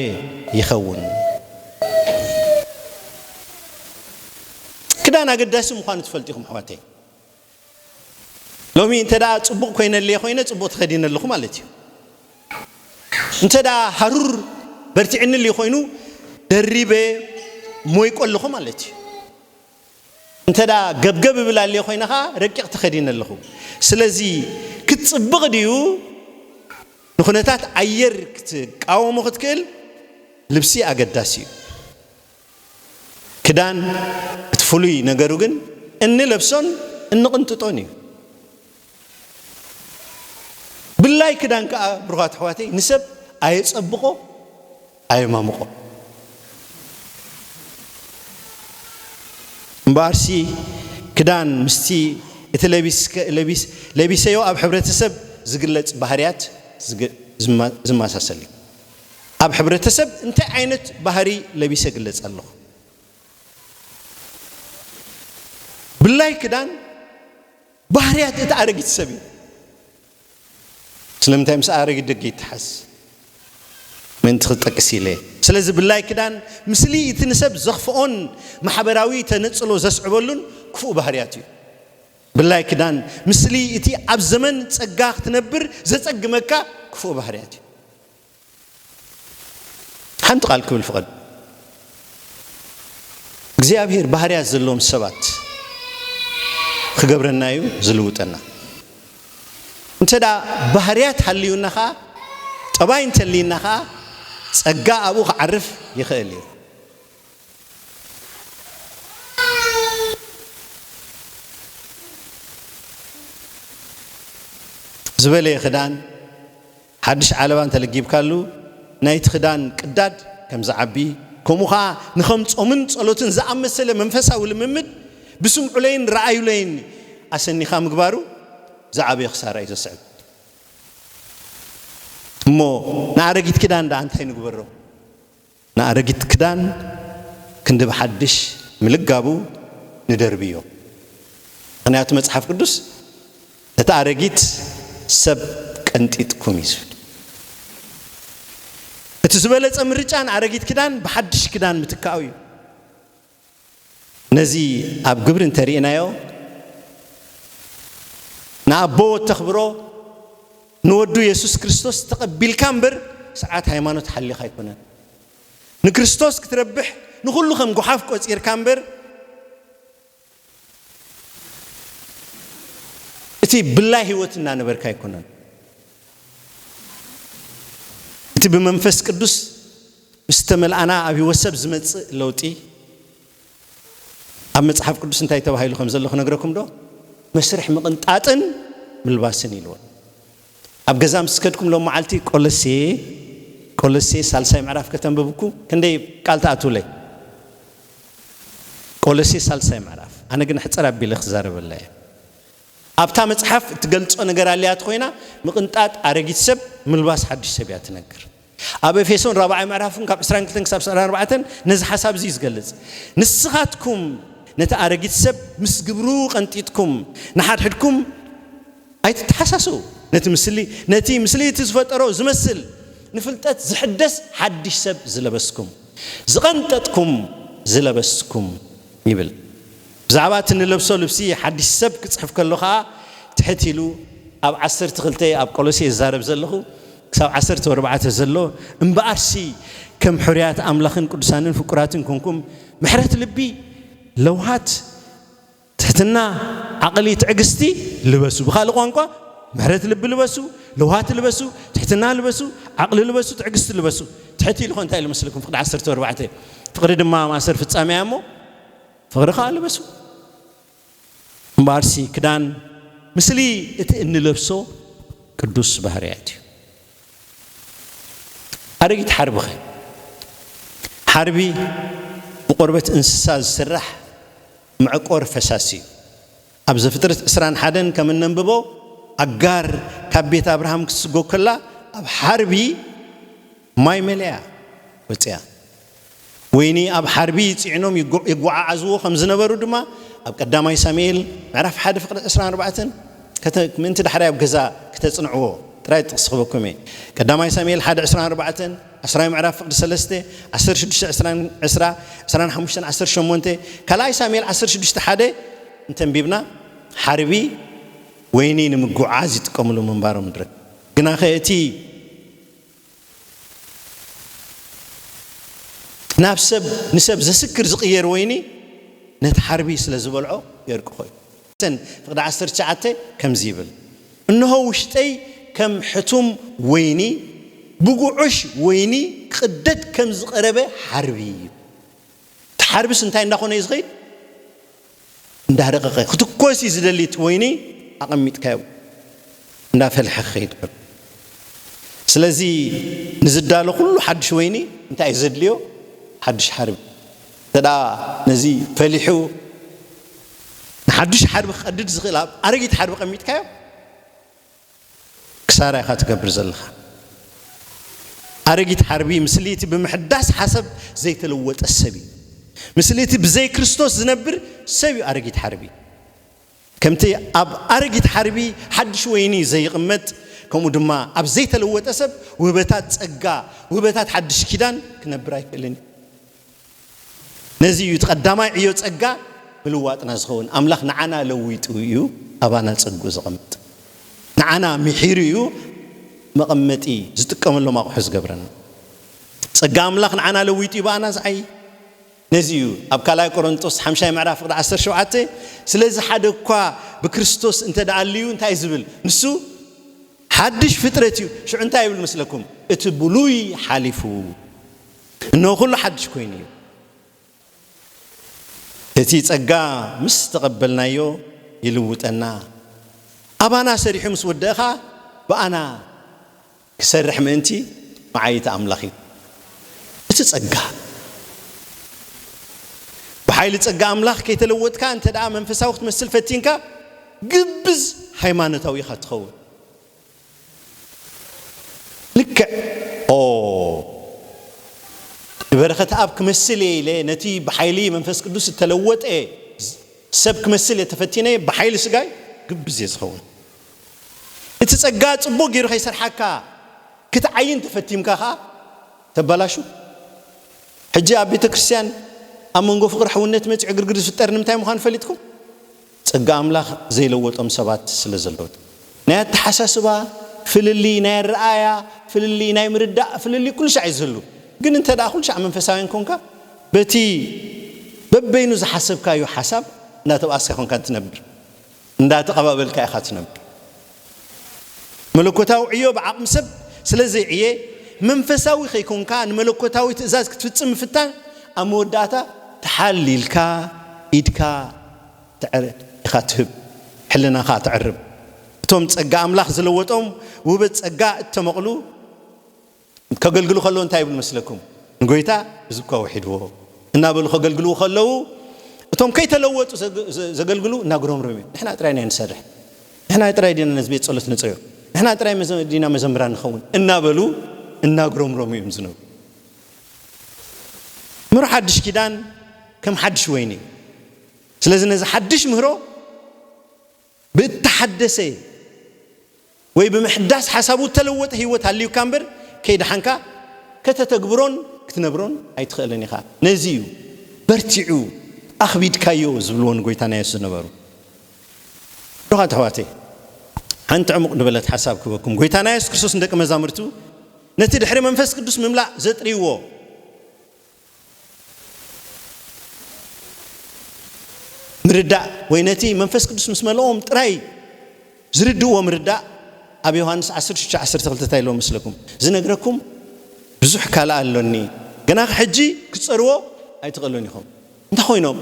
ይኸውን። ክዳን ኣገዳሲ ምዃኑ ትፈልጡ ኢኹም ኣሕዋተይ። ሎሚ እንተ ጽቡቕ ኮይነልየ ኮይነ ጽቡቕ ተኸዲነ ኣለኹ ማለት እዩ። እንተ ሃሩር በርቲዕንልዩ ኮይኑ ደሪበ ሞይቆ ኣለኹ ማለት እዩ። እንተ ገብገብ እብል ኣልየ ኮይነ ከኣ ረቂቕ ተኸዲነ ኣለኹ። ስለዚ ክትጽብቕ ድዩ ንኩነታት ኣየር ክትቃወሞ ክትክእል ልብሲ ኣገዳሲ እዩ። ክዳን እቲ ፍሉይ ነገሩ ግን እንለብሶን እንቕንጥጦን እዩ። ብላይ ክዳን ከኣ ብሩኻት ኣሕዋተይ ንሰብ ኣየጸብቆ ኣየማምቆ እምበኣርሲ ክዳን ምስቲ እቲ ለቢሰዮ ኣብ ሕብረተሰብ ዝግለጽ ባህርያት ዝመሳሰል እዩ። ኣብ ሕብረተሰብ እንታይ ዓይነት ባህሪ ለቢሰ ግለጽ ኣለኹ? ብላይ ክዳን ባህርያት እቲ ኣረጊት ሰብ እዩ። ስለምንታይ ምስ ኣረጊት ደቂ ይተሓዝ? ምእንቲ ክጠቅስ ኢለ። ስለዚ ብላይ ክዳን ምስሊ እቲ ንሰብ ዘኽፍኦን ማሕበራዊ ተነጽሎ ዘስዕበሉን ክፉእ ባህርያት እዩ። ብላይ ክዳን ምስሊ እቲ ኣብ ዘመን ጸጋ ክትነብር ዘጸግመካ ክፉእ ባህርያት እዩ። ሓንቲ ቃል ክብል ፍቐድ። እግዚኣብሔር ባህርያት ዘለዎም ሰባት ክገብረና እዩ ዝልውጠና። እንተ ባህርያት ሃልዩና ከዓ ጠባይ እንተልይና ከዓ ጸጋ ኣብኡ ክዓርፍ ይኽእል እዩ። ዝበለየ ክዳን ሓድሽ ዓለባ እንተ ለጊብካሉ፣ ናይቲ ክዳን ቅዳድ ከም ዚዓቢ፣ ከምኡ ኸኣ ንኸም ጾምን ጸሎትን ዝኣመሰለ መንፈሳዊ ልምምድ ብስምዑለይን ርኣዩለይን ኣሰኒኻ ምግባሩ ዝዓበየ ክሳራ እዩ ዘስዕብ። እሞ ንኣረጊት ክዳን ደኣ እንታይ ንግበሮ? ንኣረጊት ክዳን ክንዲ ብሓድሽ ምልጋቡ ንደርብዮ። ምኽንያቱ መጽሓፍ ቅዱስ ነቲ ኣረጊት ሰብ ቀንጢጥኩም እዩ ዝብል። እቲ ዝበለጸ ምርጫ ንኣረጊት ክዳን ብሓድሽ ክዳን ምትካኡ እዩ። ነዚ ኣብ ግብሪ እንተ ርኢናዮ፣ ንኣቦ ወተኽብሮ፣ ንወዱ የሱስ ክርስቶስ ተቐቢልካ እምበር ስርዓት ሃይማኖት ሓሊኻ ኣይኮነን። ንክርስቶስ ክትረብሕ ንኹሉ ከም ጉሓፍ ቆጺርካ እምበር እቲ ብላይ ህይወት እናነበርካ ኣይኮነን እቲ ብመንፈስ ቅዱስ ምስ ተመልኣና ኣብ ህይወት ሰብ ዝመጽእ ለውጢ ኣብ መጽሓፍ ቅዱስ እንታይ ተባሂሉ ከም ዘሎ ክነግረኩም ዶ መስርሕ ምቕንጣጥን ምልባስን ኢልዎ ኣብ ገዛ ምስ ከድኩም ሎም መዓልቲ ቆለሴ ቆለሴ ሳልሳይ ምዕራፍ ከተንብብ እኩ ክንደይ ቃል ትኣትውለይ ቆለሴ ሳልሳይ ምዕራፍ ኣነ ግን ሕጽር ኣቢለ ክዛረበላ እየ ኣብታ መጽሓፍ እትገልጾ ነገር ኣልያት ኮይና ምቕንጣጥ ኣረጊት ሰብ ምልባስ ሓድሽ ሰብ እያ ትነግር ኣብ ኤፌሶን ራብዓይ ምዕራፍን ካብ ዕስራን ክልተን ክሳብ ዕስራን ኣርባዕተን ነዚ ሓሳብ እዚ እዩ ዝገልጽ። ንስኻትኩም ነቲ ኣረጊት ሰብ ምስ ግብሩ ቀንጢጥኩም ንሓድሕድኩም ኣይትተሓሳስዉ፣ ነቲ ምስሊ ነቲ ምስሊ እቲ ዝፈጠሮ ዝመስል ንፍልጠት ዝሕደስ ሓድሽ ሰብ ዝለበስኩም፣ ዝቐንጠጥኩም ዝለበስኩም ይብል። ብዛዕባ እቲ እንለብሶ ልብሲ ሓድሽ ሰብ ክጽሕፍ ከሎ ኸኣ ትሕት ኢሉ ኣብ ዓሰርተ ክልተ ኣብ ቆሎሴ ዝዛረብ ዘለኹ ክሳብ ዓሰርተ ኣርባዕተ ዘሎ እምብኣርሲ ከም ሕሩያት ኣምላኽን ቅዱሳንን ፍቁራትን ኰንኩም ምሕረት ልቢ ለውሃት ትሕትና ዓቕሊ ትዕግስቲ ልበሱ ብኻልእ ቋንቋ ምሕረት ልቢ ልበሱ ለውሃት ልበሱ ትሕትና ልበሱ ዓቕሊ ልበሱ ትዕግስቲ ልበሱ ትሕት ኢሉ ኸ እንታይ ኢሉ መስለኩም ፍቕዲ ዓሰርተ ኣርባዕተ ፍቕሪ ድማ ማእሰር ፍጻሜ እያ እሞ ፍቕሪ ኸኣ ልበሱ። እምበኣርሲ ክዳን ምስሊ እቲ እንለብሶ ቅዱስ ባህርያት እዩ። ኣረጊት ሓርቢኸ? ሓርቢ ብቆርበት እንስሳ ዝስራሕ መዕቆሪ ፈሳሲ እዩ። ኣብ ዘፍጥርት ዕስራን ሓደን ከም እነንብቦ ኣጋር ካብ ቤት ኣብርሃም ክትስጎግ ከላ ኣብ ሓርቢ ማይ መሊኣ ወጺኣ። ወይኒ ኣብ ሓርቢ ጽዒኖም የጐዓዕዝዎ ከም ዝነበሩ ድማ ኣብ ቀዳማይ ሳሙኤል ምዕራፍ ሓደ ፍቕዲ ዕስራን ኣርባዕተን ከተ ምእንቲ ዳሕራይ ኣብ ገዛ ክተጽንዕዎ ጥራይ ጥቕሲ ክህበኩም እየ። ቀዳማይ ሳሙኤል ሓደ ዕስራን ኣርባዕተን፣ ዓስራይ ምዕራፍ ፍቕዲ ሰለስተ፣ ዓሰርተ ሽዱሽተ ዕስራ፣ ዕስራ፣ ዕስራን ሓሙሽተን ዓሰርተ ሸሞንተ፣ ካልኣይ ሳሙኤል ዓሰርተ ሽዱሽተ ሓደ እንተ ኣንቢብና ሓርቢ ወይኒ ንምጕዕዓዝ ይጥቀምሉ ምንባሮም ንረክብ። ግናኸ እቲ። ናብ ሰብ ንሰብ ዘስክር ዝቕየር ወይኒ ነቲ ሓርቢ ስለ ዝበልዖ የርቅኾ እዩ። ተን ፍቕዲ ዓሰርተ ትሽዓተ ከምዚ ይብል፣ እንሆ ውሽጠይ ከም ሕቱም ወይኒ፣ ብጉዑሽ ወይኒ ክቕደድ ከም ዝቐረበ ሓርቢ እዩ። እቲ ሓርቢስ እንታይ እንዳኾነ እዩ ዝኸይድ? እንዳረቐቐ። ክትኮስ እዩ ዝደሊ እቲ ወይኒ ኣቐሚጥካዮ እንዳፈልሐ ክኸይድ ከሎ። ስለዚ ንዝዳሎ ኩሉ ሓዱሽ ወይኒ እንታይ እዩ ዘድልዮ? ሓዱሽ ሓርቢ። እንተድኣ ነዚ ፈሊሑ ንሓዱሽ ሓርቢ ክቐድድ ዝኽእል ኣብ ኣረጊት ሓርቢ ኣቐሚጥካዮ፣ ክሳራ ኢኻ ትገብር ዘለኻ ኣረጊት ሓርቢ ምስሊ እቲ ብምሕዳስ ሓሰብ ዘይተለወጠ ሰብ እዩ ምስሊ እቲ ብዘይ ክርስቶስ ዝነብር ሰብ እዩ ኣረጊት ሓርቢ ከምቲ ኣብ ኣረጊት ሓርቢ ሓድሽ ወይኒ ዘይቕመጥ ከምኡ ድማ ኣብ ዘይተለወጠ ሰብ ውህበታት ጸጋ ውህበታት ሓድሽ ኪዳን ክነብር ኣይክእልን እዩ ነዚ እዩ እቲ ቀዳማይ ዕዮ ጸጋ ምልዋጥና ዝኸውን። ኣምላኽ ንዓና ለዊጡ እዩ ኣባና ጸግኡ ዘቐምጥ። ንዓና ምሒሩ እዩ መቐመጢ ዝጥቀመሎም ኣቑሑ ዝገብረና። ጸጋ ኣምላኽ ንዓና ለዊጡ እዩ ብኣና ዝዓይ። ነዚ እዩ ኣብ ካልኣይ ቆሮንጦስ ሓምሻይ ምዕራፍ ፍቕዲ ዓሰርተ ሸውዓተ ስለዚ ሓደ እኳ ብክርስቶስ እንተ ደኣ ኣልዩ እንታይ እዩ ዝብል ንሱ ሓድሽ ፍጥረት እዩ ሽዑ እንታይ ይብል መስለኩም እቲ ብሉይ ሓሊፉ እነሆ ኩሉ ሓድሽ ኮይኑ እዩ። እቲ ጸጋ ምስ ተቐበልናዮ ይልውጠና። ኣባና ሰሪሑ ምስ ወደእ ኸኣ ብኣና ክሰርሕ ምእንቲ መዓይይቲ ኣምላኽ እዩ። እቲ ጸጋ ብሓይሊ ጸጋ ኣምላኽ ከይተለወጥካ እንተደኣ መንፈሳዊ ክትመስል ፈቲንካ ግብዝ ሃይማኖታዊ ኢኻ እትኸውን። ልክዕ ኦብ በረኸትኣብ ክመስል እየ ኢለ ነቲ ብሓይሊ መንፈስ ቅዱስ እተለወጠ ሰብ ክመስል እየ ተፈቲነ ብሓይሊ ስጋይ ግብዝ እየ ዝኸውን። እቲ ጸጋ ጽቡቕ ገይሩ ከይሰርሓካ ክትዓይን ተፈቲምካ ከኣ ተባላሹ። ሕጂ ኣብ ቤተክርስትያን ኣብ መንጎ ፍቕሪ ሕውነት መጺዑ ዕግርግር ዝፍጠር ንምንታይ ምዃኑ ፈሊጥኩም? ጸጋ ኣምላኽ ዘይለወጦም ሰባት ስለ ዘለዉ። ናይ ኣተሓሳስባ ፍልልይ፣ ናይ ኣረኣእያ ፍልልይ፣ ናይ ምርዳእ ፍልልይ ኩሉ ሻዕ እዩ ዝህሉ። ግን እንተድኣ ኩሉ ሻዕ መንፈሳውያን ኰንካ በቲ በበይኑ ዝሓሰብካዮ ሓሳብ እንዳተብኣስካ ኰንካ እትነብር፣ እንዳተቐባበልካ ኢኻ እትነብር። መለኮታዊ ዕዮ ብዓቕሚ ሰብ ስለ ዘይዕየ፣ መንፈሳዊ ከይኰንካ ንመለኮታዊ ትእዛዝ ክትፍጽም ምፍታን፣ ኣብ መወዳእታ ትሓል ኢልካ ኢድካ ኢኻ ትህብ፣ ሕልናኻ ተዕርብ። እቶም ጸጋ ኣምላኽ ዝለወጦም ውህበት ጸጋ እተመቕሉ፣ ከገልግሉ ከለዉ እንታይ ይብሉ መስለኩም? ንጎይታ ህዝብካ ውሒድዎ እናበሉ ከገልግልዉ ከለዉ እቶም ከይተለወጡ ዘገልግሉ እናጉረምረሙ እዮም ንሕና ጥራይ ኢና ንሰርሕ፣ ንሕና ጥራይ ዲና ነዚ ቤት ጸሎት ንጽዮ፣ ንሕና ጥራይ ዲና መዘምራን ንኸውን እናበሉ እናጉረምረሙ እዮም ዝነብሩ። ምህሮ ሓድሽ ኪዳን ከም ሓድሽ ወይኒ እዩ። ስለዚ ነዚ ሓድሽ ምህሮ ብእተሓደሰ ወይ ብምሕዳስ ሓሳቡ እተለወጠ ህይወት ሃልዩካ እምበር፣ ከይደሓንካ ከተተግብሮን ክትነብሮን ኣይትኽእልን ኢኻ። ነዚ እዩ በርቲዑ ኣኽቢድካዮ ዝብልዎ ንጐይታና የሱስ ዝነበሩ። ብሩኻት ኣሕዋተይ፣ ሓንቲ ዕሙቕ ዝበለት ሓሳብ ክህበኩም። ጐይታና የሱስ ክርስቶስ ንደቀ መዛሙርቱ ነቲ ድሕሪ መንፈስ ቅዱስ ምምላእ ዘጥርይዎ፣ ምርዳእ ወይ ነቲ መንፈስ ቅዱስ ምስ መልኦም ጥራይ ዝርድእዎ ምርዳእ ኣብ ዮሃንስ 16:12 እንታይ ኢልዎ መስለኩም? ዝነግረኩም ብዙሕ ካልእ ኣሎኒ፣ ግና ሕጂ ክትጸርዎ ኣይትኽእሉን ኢኹም። እንታይ ኮይኖም?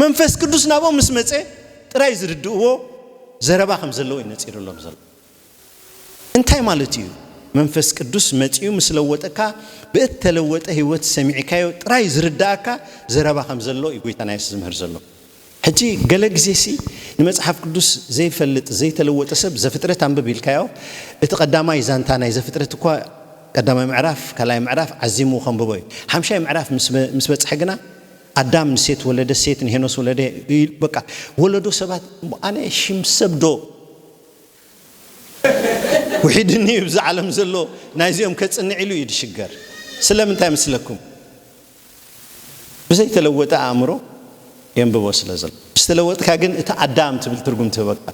መንፈስ ቅዱስ ናብኦም ምስ መጸ ጥራይ ዝርድእዎ ዘረባ ከም ዘለዉ እዩ ነጺሩሎም ዘሎ። እንታይ ማለት እዩ? መንፈስ ቅዱስ መጺኡ ምስ ለወጠካ ብእተለወጠ ህይወት ሰሚዕካዮ ጥራይ ዝርድኣካ ዘረባ ከም ዘሎ እዩ ጎይታና የሱስ ዝምህር ዘሎ። ሕጂ ገለ ግዜሲ ንመጽሓፍ ቅዱስ ዘይፈልጥ ዘይተለወጠ ሰብ ዘፍጥረት ኣንብብ ኢልካዮ እቲ ቀዳማይ ዛንታ ናይ ዘፍጥረት እኳ ቀዳማይ ምዕራፍ ካልኣይ ምዕራፍ ዓዚሙ ከንብቦ እዩ። ሓምሻይ ምዕራፍ ምስ በጽሐ ግና ኣዳም ንሴት ወለደ ሴት ንሄኖስ ወለደ በቃ ወለዶ ሰባት ኣነ ሽም ሰብ ዶ ውሒድ እንዩ እብዚ ዓለም ዘሎ ናይዚኦም ከጽንዕ ኢሉ እዩ ድሽገር ስለምንታይ መስለኩም ብዘይተለወጠ ኣእምሮ የንብቦ ስለ ዘሎ ምስ ተለወጥካ ግን እቲ ኣዳም ትብል ትርጉም ትህበካ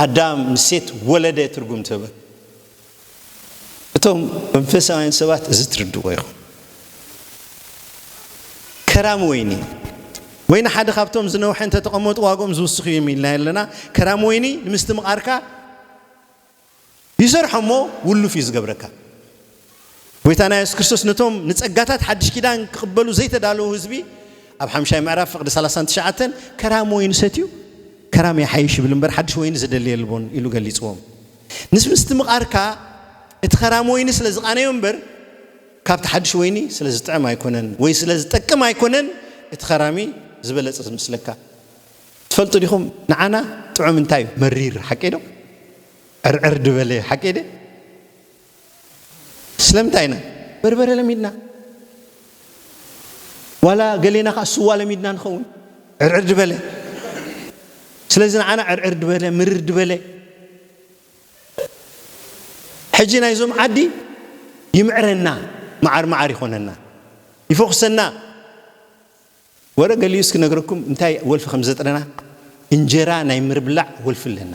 ኣዳም ምስ ሴት ወለደ ትርጉም ትህበካ እቶም መንፈሳውያን ሰባት እዚ ትርድዎ ኢኹም። ከራም ወይኒ ወይ ንሓደ ካብቶም ዝነውሐ እንተተቐመጡ ዋግኦም ዝውስኽ እዩ እዮም ኢልናዮ ኣለና። ከራም ወይኒ ንምስትምቓርካ ይሰርሖ እሞ ውሉፍ እዩ ዝገብረካ። ጎይታና የሱስ ክርስቶስ ነቶም ንጸጋታት ሓድሽ ኪዳን ክቕበሉ ዘይተዳለዉ ህዝቢ ኣብ ሓምሻይ ምዕራፍ ፍቕዲ 39 ከራም ወይኒ ሰትዩ ከራም ይሓይሽ ይብል እምበር ሓድሽ ወይኒ ዝደሊ የልቦን ኢሉ ገሊጽዎም። ምስ ምስትምቓርካ እቲ ኸራም ወይኒ ስለ ዝቓነዮ እምበር ካብቲ ሓድሽ ወይኒ ስለ ዝጥዕም ኣይኮነን ወይ ስለ ዝጠቅም ኣይኮነን እቲ ኸራሚ ዝበለጸ ዝመስለካ ትፈልጡ ዲኹም ንዓና ጥዑም እንታይ እዩ መሪር ሓቀይ ዶ ዕርዕር ድበለ ሓቀይ ደ ስለምንታይ ኢና በርበረ ለሚድና ዋላ ገሌና ከዓ ስዋ ለሚድና ንኸውን ዕርዕር ድበለ ስለዚ ንዓና ዕርዕር ድበለ ምርር ድበለ ሕጂ ናይዞም ዓዲ ይምዕረና መዓር መዓር ይኾነና ይፈኹሰና ወረ ገሊኡ እስኪ ነግረኩም እንታይ ወልፊ ከም ዘጥረና እንጀራ ናይ ምርብላዕ ወልፊ ኣለና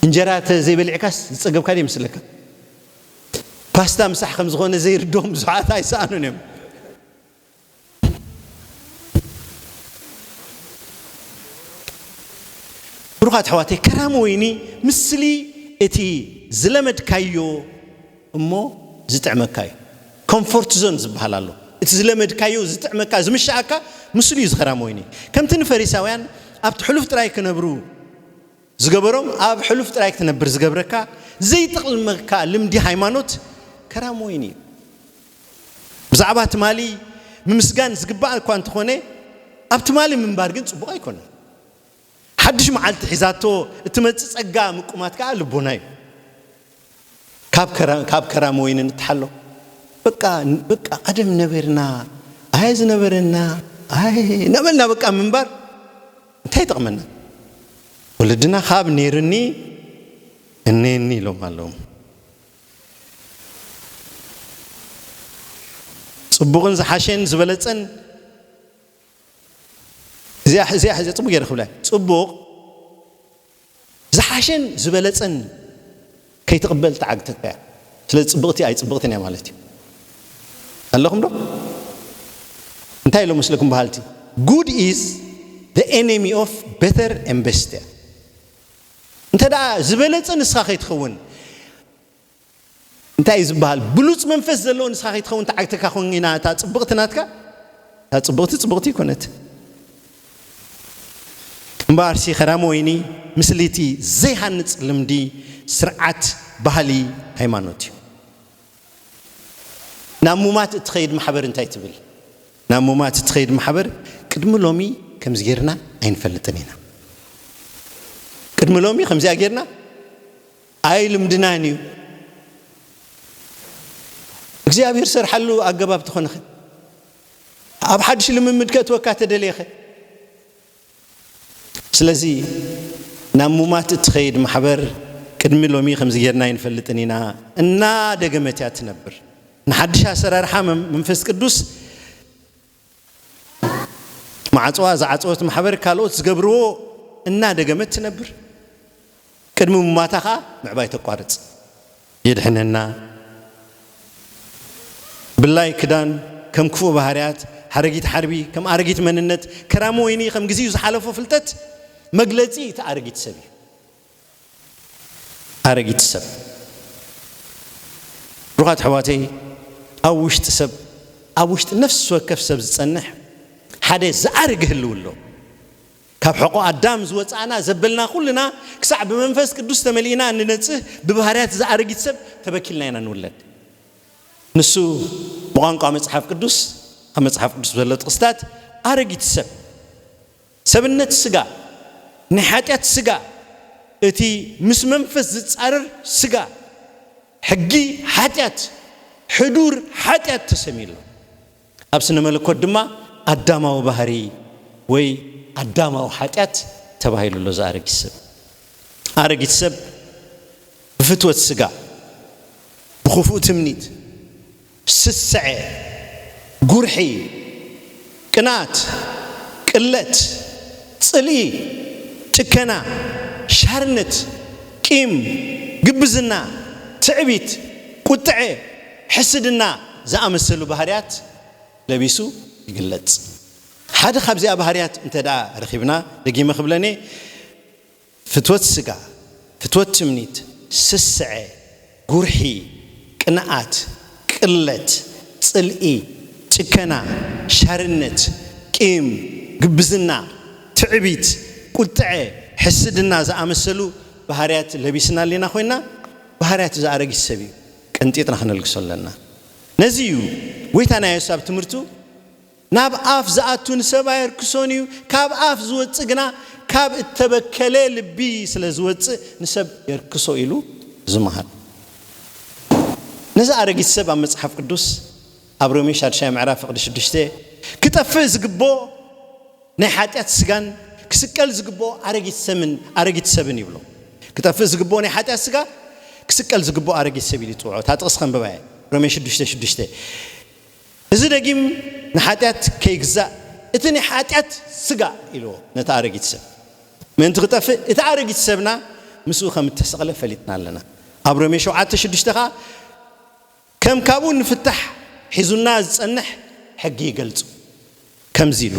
እንጀራ እተ ዘይበሊዕካስ ዝጸገብካ ዶ ይመስለካ ፓስታ ምሳሕ ከም ዝኾነ ዘይርድኦም ብዙሓት ኣይሰኣኑን እዮም ብሩኻት ኣሕዋተይ ከራሚ ወይኒ ምስሊ እቲ ዝለመድካዮ እሞ ዝጥዕመካ እዩ ኮንፎርት ዞን ዝበሃል ኣሎ እቲ ዝለመድካዮ ዝጥዕመካ ዝምሽኣካ ምስሉ እዩ ዝኸራም ወይኒ ከምቲ ንፈሪሳውያን ኣብቲ ሕሉፍ ጥራይ ክነብሩ ዝገበሮም ኣብ ሕሉፍ ጥራይ ክትነብር ዝገብረካ ዘይጥቕልመካ ልምዲ ሃይማኖት ከራም ወይኒ እዩ ብዛዕባ ትማሊ ምምስጋን ዝግባእ እኳ እንተኾነ ኣብ ትማሊ ምንባር ግን ጽቡቕ ኣይኮነን ሓድሽ መዓልቲ ሒዛቶ እትመጽእ ጸጋ ምቁማት ከኣ ልቦና እዩ። ካብ ካብ ከራም ወይኒ ንተሓሎ። በቃ በቃ ቀደም ነበርና ኣየ ዝነበረና ኣየ እናበልና በቃ ምንባር እንታይ ይጠቕመና? ወለድና ካብ ነይሩኒ እኔኒ ኢሎም ኣለዉ። ጽቡቕን ዝሓሸን ዝበለጸን እዚኣ እዚኣ ሕዚ ጽቡቅ ገይረ ክብላ ጽቡቅ ዝሓሸን ዝበለጸን ከይትቕበል ትዓግተካ እያ ስለዚ ጽብቕቲ ኣይጽብቕትን እያ ማለት እዩ ኣለኹም ዶ እንታይ ኢሎም መስለኩም በሃልቲ ጉድ ኢዝ the enemy of better and best እያ እንተ ዝበለጸ ንስኻ ከይትኸውን እንታይ እዩ ዝብሃል ብሉጽ መንፈስ ዘለዎ ንስኻ ከይትኸውን ተዓግተካ ኮይና እታ ጽብቕቲ ናትካ እታ ጽብቕቲ ጽብቕቲ ኣይኮነት እምበኣርሲ ከራሚ ወይኒ ምስሊ እቲ ዘይሃንጽ ልምዲ ስርዓት ባህሊ ሃይማኖት እዩ ናብ ሙማት እትኸይድ ማሕበር እንታይ ትብል ናብ ሙማት እትኸይድ ማሕበር ቅድሚ ሎሚ ከምዚ ጌርና ኣይንፈልጥን ኢና ቅድሚ ሎሚ ከምዚኣ ጌርና ኣይ ልምድናን እዩ እግዚኣብሔር ዝሰርሓሉ ኣገባብ ተኾነኸ ኣብ ሓድሽ ልምምድ ከእትወካ ተደልየኸ ስለዚ ናብ ሙማት እትኸይድ ማሕበር ቅድሚ ሎሚ ከምዚ ጌርና ኣይንፈልጥን ኢና እና ደገመት እያ ትነብር ንሓድሽ ኣሰራርሓ መንፈስ ቅዱስ ማዕጽዋ ዝዓጸወት ማሕበር ካልኦት ዝገብርዎ እናደገመት ትነብር፣ ቅድሚ ምሟታ ከኣ ምዕባይ ተቋርጽ። የድሕነና። ብላይ ክዳን ከም ክፉእ ባህርያት፣ ሓረጊት ሓርቢ ከም ኣረጊት መንነት፣ ከራሚ ወይኒ ከም ግዚኡ ዝሓለፎ ፍልጠት መግለጺ እቲ ኣረጊት ሰብ እዩ። ኣረጊት ሰብ ብሩኻት ኣሕዋተይ ኣብ ውሽጢ ሰብ ኣብ ውሽጢ ነፍሲ ወከፍ ሰብ ዝጸንሕ ሓደ ዝኣርግ ህልው ኣሎ ካብ ሕቆ ኣዳም ዝወጻእና ዘበልና ኩልና ክሳዕ ብመንፈስ ቅዱስ ተመሊእና እንነጽህ ብባህርያት ዝኣረጊት ሰብ ተበኪልና ኢና ንውለድ ንሱ ብቋንቋ መጽሓፍ ቅዱስ ኣብ መጽሓፍ ቅዱስ ዘሎ ጥቕስታት ኣረጊት ሰብ ሰብነት ስጋ፣ ናይ ሓጢኣት ስጋ፣ እቲ ምስ መንፈስ ዝጻረር ስጋ፣ ሕጊ ሓጢኣት፣ ሕዱር ሓጢኣት ተሰምዩ ኣሎ። ኣብ ስነ መለኮት ድማ ኣዳማዊ ባህሪ ወይ ኣዳማዊ ሓጢኣት ተባሂሉ ኣሎ። እዚ ኣረጊት ሰብ ኣረጊት ሰብ ብፍትወት ስጋ፣ ብኽፉእ ትምኒት፣ ስስዐ፣ ጉርሒ፣ ቅንኣት፣ ቅለት፣ ጽልኢ፣ ጭከና፣ ሻርነት፣ ቂም፣ ግብዝና፣ ትዕቢት፣ ቁጥዐ፣ ሕስድና ዝኣመሰሉ ባህርያት ለቢሱ ይግለጽ። ሓደ ካብዚኣ ባህርያት እንተድኣ ረኺብና፣ ደጊመ ክብለን'የ፣ ፍትወት ስጋ፣ ፍትወት ትምኒት፣ ስስዐ፣ ጉርሒ፣ ቅንኣት፣ ቅለት፣ ጽልኢ፣ ጭከና፣ ሻርነት፣ ቂም፣ ግብዝና፣ ትዕቢት፣ ቁጥዐ፣ ሕስድና ዝኣመሰሉ ባህርያት ለቢስና ኣሊና ኮይና ባህርያት እዚ ኣረጊት ሰብ እዩ ቀንጢጥና ክነልግሶ ኣለና ነዚ እዩ ጎይታ ናየሱስ ኣብ ትምህርቱ ናብ ኣፍ ዝኣቱ ንሰብ ኣየርክሶን እዩ፣ ካብ ኣፍ ዝወጽእ ግና ካብ እተበከለ ልቢ ስለ ዝወጽእ ንሰብ የርክሶ ኢሉ ዝመሃር። ነዚ ኣረጊት ሰብ ኣብ መጽሓፍ ቅዱስ ኣብ ሮሜ ሻድሻይ ምዕራፍ ፍቕዲ ሽዱሽተ ክጠፍእ ዝግብኦ ናይ ሓጢኣት ስጋን ክስቀል ዝግብኦ ኣረጊት ሰምን ኣረጊት ሰብን ይብሎ። ክጠፍእ ዝግብኦ ናይ ሓጢኣት ስጋ ክስቀል ዝግብኦ ኣረጊት ሰብ ኢሉ ይጽውዖ። እታ ጥቕሲ ከንብባ እየ ሮሜ ሽዱሽተ ሽዱሽተ እዚ ደጊም ንሓጢኣት ከይግዛእ እቲ ናይ ሓጢኣት ስጋ ኢልዎ ነቲ ኣረጊት ሰብ ምእንቲ ክጠፍእ እቲ ኣረጊት ሰብና ምስኡ ከም እተሰቕለ ፈሊጥና ኣለና ኣብ ሮሜ ሸውዓተ ሽዱሽተ ከኣ ከም ካብኡ ንፍታሕ ሒዙና ዝጸንሕ ሕጊ ይገልጹ። ከምዚ ኢሉ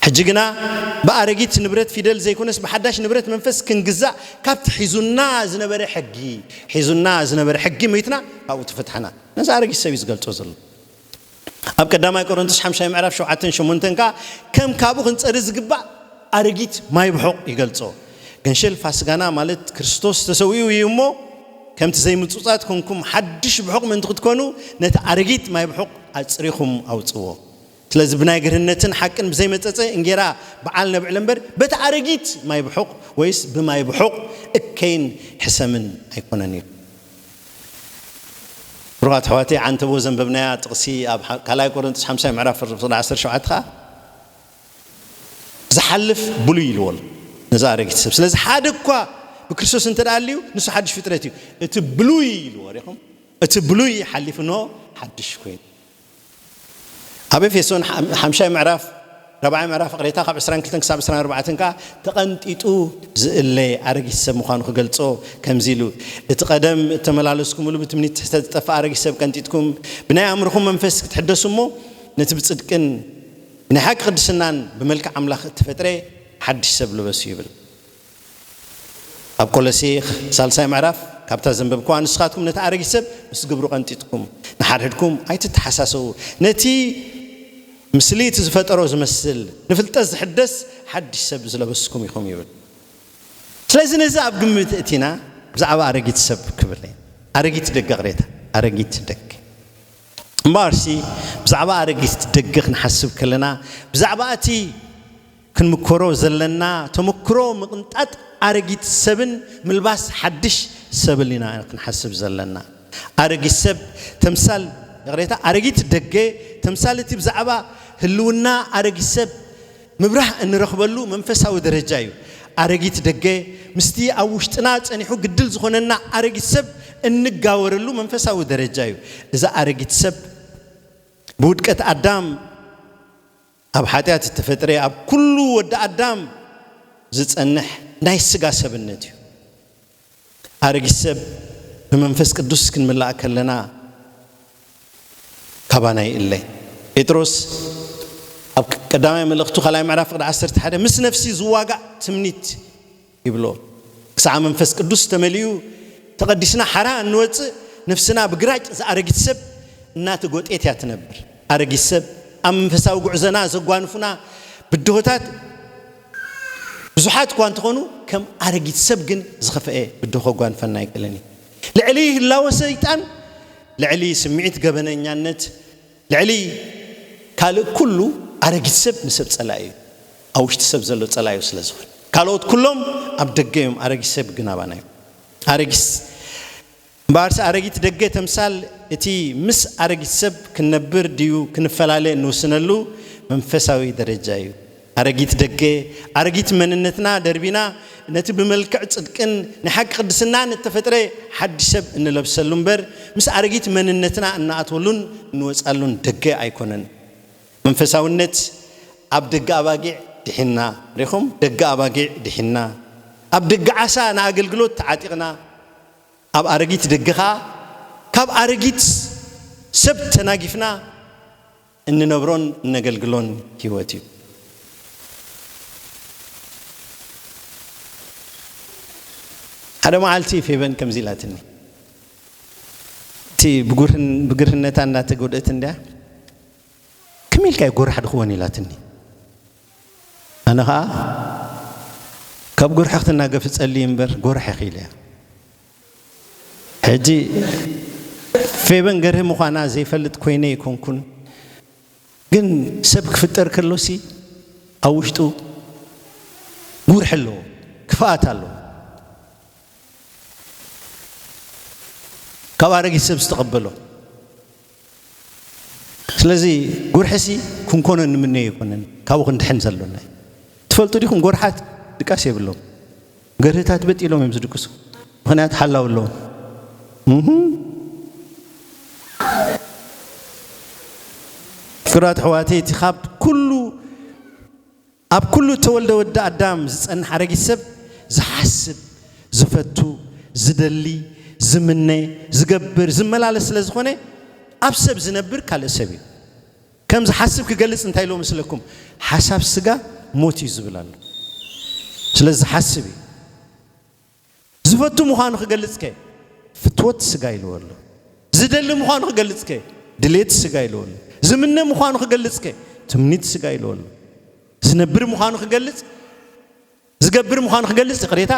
ሕጂ ግና ብኣረጊት ንብረት ፊደል ዘይኮነስ ብሓዳሽ ንብረት መንፈስ ክንግዛእ ካብቲ ሒዙና ዝነበረ ሕጊ ሒዙና ዝነበረ ሕጊ ሞይትና ካብኡ ተፈትሐና ነዚ ኣረጊት ሰብ እዩ ዝገልጾ ዘሎ ኣብ ቀዳማይ ቆሮንቶስ ሓምሻይ ምዕራፍ ሸውዓተን ሸሞንተን ከዓ ከም ካብኡ ክንጸሪ ዝግባእ ኣረጊት ማይ ብሑቕ ይገልጾ ገንሸል ፋስጋና ማለት ክርስቶስ ተሰዊኡ እዩ እሞ ከምቲ ዘይምጹጻት ኰንኩም ሓድሽ ብሑቕ ምእንቲ ክትኰኑ ነቲ ኣረጊት ማይ ብሑቕ ኣጽሪኹም ኣውጽዎ። ስለዚ ብናይ ግርህነትን ሓቅን ብዘይመጸጸ እንጌራ ብዓል ነብዕል እምበር በቲ ኣረጊት ማይ ብሑቕ ወይስ ብማይ ብሑቕ እከይን ሕሰምን ኣይኰነን ኢሉ። ብሩኻት ኣሕዋተይ፣ ዓንተቦ ዘንበብናያ ጥቕሲ ኣብ ካልኣይ ቈረንቶስ ሓምሳይ ምዕራፍ ፍቕዲ ዓሰርተ ሸውዓተ ኸኣ ዝሓልፍ ብሉይ ኢልዎ ኣሎ ነዚ ኣረጊት ሰብ። ስለዚ ሓደ እኳ ብክርስቶስ እንተ ኣልዩ ንሱ ሓድሽ ፍጥረት እዩ። እቲ ብሉይ ኢልዎ ሪኹም እቲ ብሉይ ሓሊፉ ን ሓድሽ ኮይኑ ኣብ ኤፌሶን ሓምሻይ ምዕራፍ ራብዓይ ምዕራፍ ቅሬታ ካብ 22 ክሳብ 24 ከዓ ተቐንጢጡ ዝእለ ኣረጊት ሰብ ምዃኑ ክገልጾ ከምዚ ኢሉ እቲ ቀደም እተመላለስኩምሉ ብትምኒት ትሕተ ዝጠፍእ ኣረጊት ሰብ ቀንጢጥኩም ብናይ ኣእምርኹም መንፈስ ክትሕደሱ እሞ ነቲ ብጽድቅን ናይ ሓቂ ቅድስናን ብመልክዕ ኣምላኽ እተፈጥረ ሓድሽ ሰብ ልበሱ ይብል። ኣብ ቆሎሴ ሳልሳይ ምዕራፍ ካብታ ዘንበብክዋ ንስኻትኩም ነቲ ኣረጊት ሰብ ምስ ግብሩ ቀንጢጥኩም ንሓድሕድኩም ኣይትተሓሳሰዉ ነቲ ምስሊ እቲ ዝፈጠሮ ዝመስል ንፍልጠት ዝሕደስ ሓድሽ ሰብ ዝለበስኩም ኢኹም ይብል። ስለዚ ነዚ ኣብ ግምት እእቲና ብዛዕባ ኣረጊት ሰብ ክብል እየ። ኣረጊት ደገ ቅሬታ ኣረጊት ደገ። እምበኣርሲ ብዛዕባ ኣረጊት ደገ ክንሓስብ ከለና ብዛዕባ እቲ ክንምኮሮ ዘለና ተመክሮ ምቕንጣጥ ኣረጊት ሰብን ምልባስ ሓድሽ ሰብል ኢና ክንሓስብ ዘለና። ኣረጊት ሰብ ተምሳል ይቕሬታ ኣረጊት ደገ ተምሳል እቲ ብዛዕባ ህልውና ኣረጊት ሰብ ምብራህ እንረኽበሉ መንፈሳዊ ደረጃ እዩ። ኣረጊት ደገ ምስቲ ኣብ ውሽጥና ጸኒሑ ግድል ዝኾነና ኣረጊት ሰብ እንጋወረሉ መንፈሳዊ ደረጃ እዩ። እዚ ኣረጊት ሰብ ብውድቀት ኣዳም ኣብ ሓጢኣት እተፈጥረ ኣብ ኩሉ ወዲ ኣዳም ዝጸንሕ ናይ ስጋ ሰብነት እዩ። ሓረጊት ሰብ ብመንፈስ ቅዱስ ክንምላእ ከለና ካባና ይእለ። ጴጥሮስ ኣብ ቀዳማይ መልእኽቱ ካልኣይ ምዕራፍ ቅዲ ዓሰርተ ሓደ ምስ ነፍሲ ዝዋጋእ ትምኒት ይብሎ። ክሳዕ መንፈስ ቅዱስ ተመሊኡ ተቐዲስና ሓራ እንወፅእ ነፍስና ብግራጭ ዝኣረጊት ሰብ እናተጎጤት እያ ትነብር። ኣረጊት ሰብ ኣብ መንፈሳዊ ጉዕዘና ዘጓንፉና ብድሆታት ብዙሓት እኳ እንተኾኑ ከም ኣረጊት ሰብ ግን ዝኸፈኤ ብድሆ ከጓንፈና ኣይክእልን እዩ። ልዕሊ ህላወ ሰይጣን፣ ልዕሊ ስምዒት ገበነኛነት፣ ልዕሊ ካልእ ኩሉ ኣረጊት ሰብ ንሰብ ጸላኢ እዩ። ኣብ ውሽጢ ሰብ ዘሎ ጸላዩ ስለ ዝኽን። ካልኦት ኩሎም ኣብ ደገ እዮም ኣረጊት ሰብ ግን ኣባና እዩ። ኣረጊት እምበኣርስ ኣረጊት ደገ ተምሳል እቲ ምስ ኣረጊት ሰብ ክንነብር ድዩ ክንፈላለ እንውስነሉ መንፈሳዊ ደረጃ እዩ። ኣረጊት ደገ፣ ኣረጊት መንነትና ደርቢና ነቲ ብመልክዕ ጽድቅን ናይ ሓቂ ቅድስናን እተፈጥረ ሓድሽ ሰብ እንለብሰሉ እምበር ምስ ኣረጊት መንነትና እንኣትወሉን እንወጻሉን ደገ ኣይኮነን። መንፈሳውነት ኣብ ደገ ኣባጊዕ ድሒንና። ርኢኹም፣ ደገ ኣባጊዕ ድሒንና። ኣብ ደገ ዓሳ ንኣገልግሎት ተዓጢቕና። ኣብ ኣረጊት ደገኻ ካብ ኣረጊት ሰብ ተናጊፍና እንነብሮን እነገልግሎን ህይወት እዩ። ሓደ መዓልቲ ፌበን ከምዚ ኢላትኒ እቲ ብግርህነታ እንዳተጎድእት እንድያ ከመይ ኢልካ እዩ ጎራሕ ድኽወን ኢላትኒ ኣነ ከኣ ካብ ጎርሒ ክትናገፍ እጸሊ እምበር ጎርሒ ኪለ እያ ሕጂ ፌበን ገርሂ ምዃና ዘይፈልጥ ኮይነ ኣይኮንኩን ግን ሰብ ክፍጠር ከሎሲ ኣብ ውሽጡ ጉርሒ ኣለዎ ክፍኣት ኣለዎ ካብ ኣረጊት ሰብ ዝተቐበሎ ስለዚ ጉርሒሲ ክንኮኖ እንምነዮ ኣይኮነን፣ ካብኡ ክንድሕን ዘሎና እዩ። ትፈልጡ ዲኹም ጎርሓት ድቃስ የብሎም፣ ገርህታት በጥ ኢሎም እዮም ዝድቅሱ፣ ምኽንያቱ ሓላዊ ኣለዎም። ፍቅራት ኣሕዋተይ እቲ ካብ ኩሉ ኣብ ኩሉ እተወልደ ወዲ ኣዳም ዝጸንሕ ኣረጊት ሰብ ዝሓስብ፣ ዝፈቱ፣ ዝደሊ፣ ዝምነ፣ ዝገብር፣ ዝመላለስ ስለ ዝኾነ ኣብ ሰብ ዝነብር ካልእ ሰብ እዩ። ከም ዝሓስብ ክገልጽ እንታይ ኢልዎ መስለኩም? ሓሳብ ስጋ ሞት እዩ ዝብል ኣሎ። ስለዚ ዝሓስብ እዩ። ዝፈቱ ምዃኑ ክገልጽከ ፍትወት ስጋ ኢልዎ ኣሎ። ዝደሊ ምዃኑ ክገልጽከ ድሌት ስጋ ኢልዎ ኣሎ። ዝምነ ምዃኑ ክገልጽከ ትምኒት ስጋ ኢልዎ ኣሎ። ዝነብር ምዃኑ ክገልጽ ዝገብር ምዃኑ ክገልጽ ይቕሬታ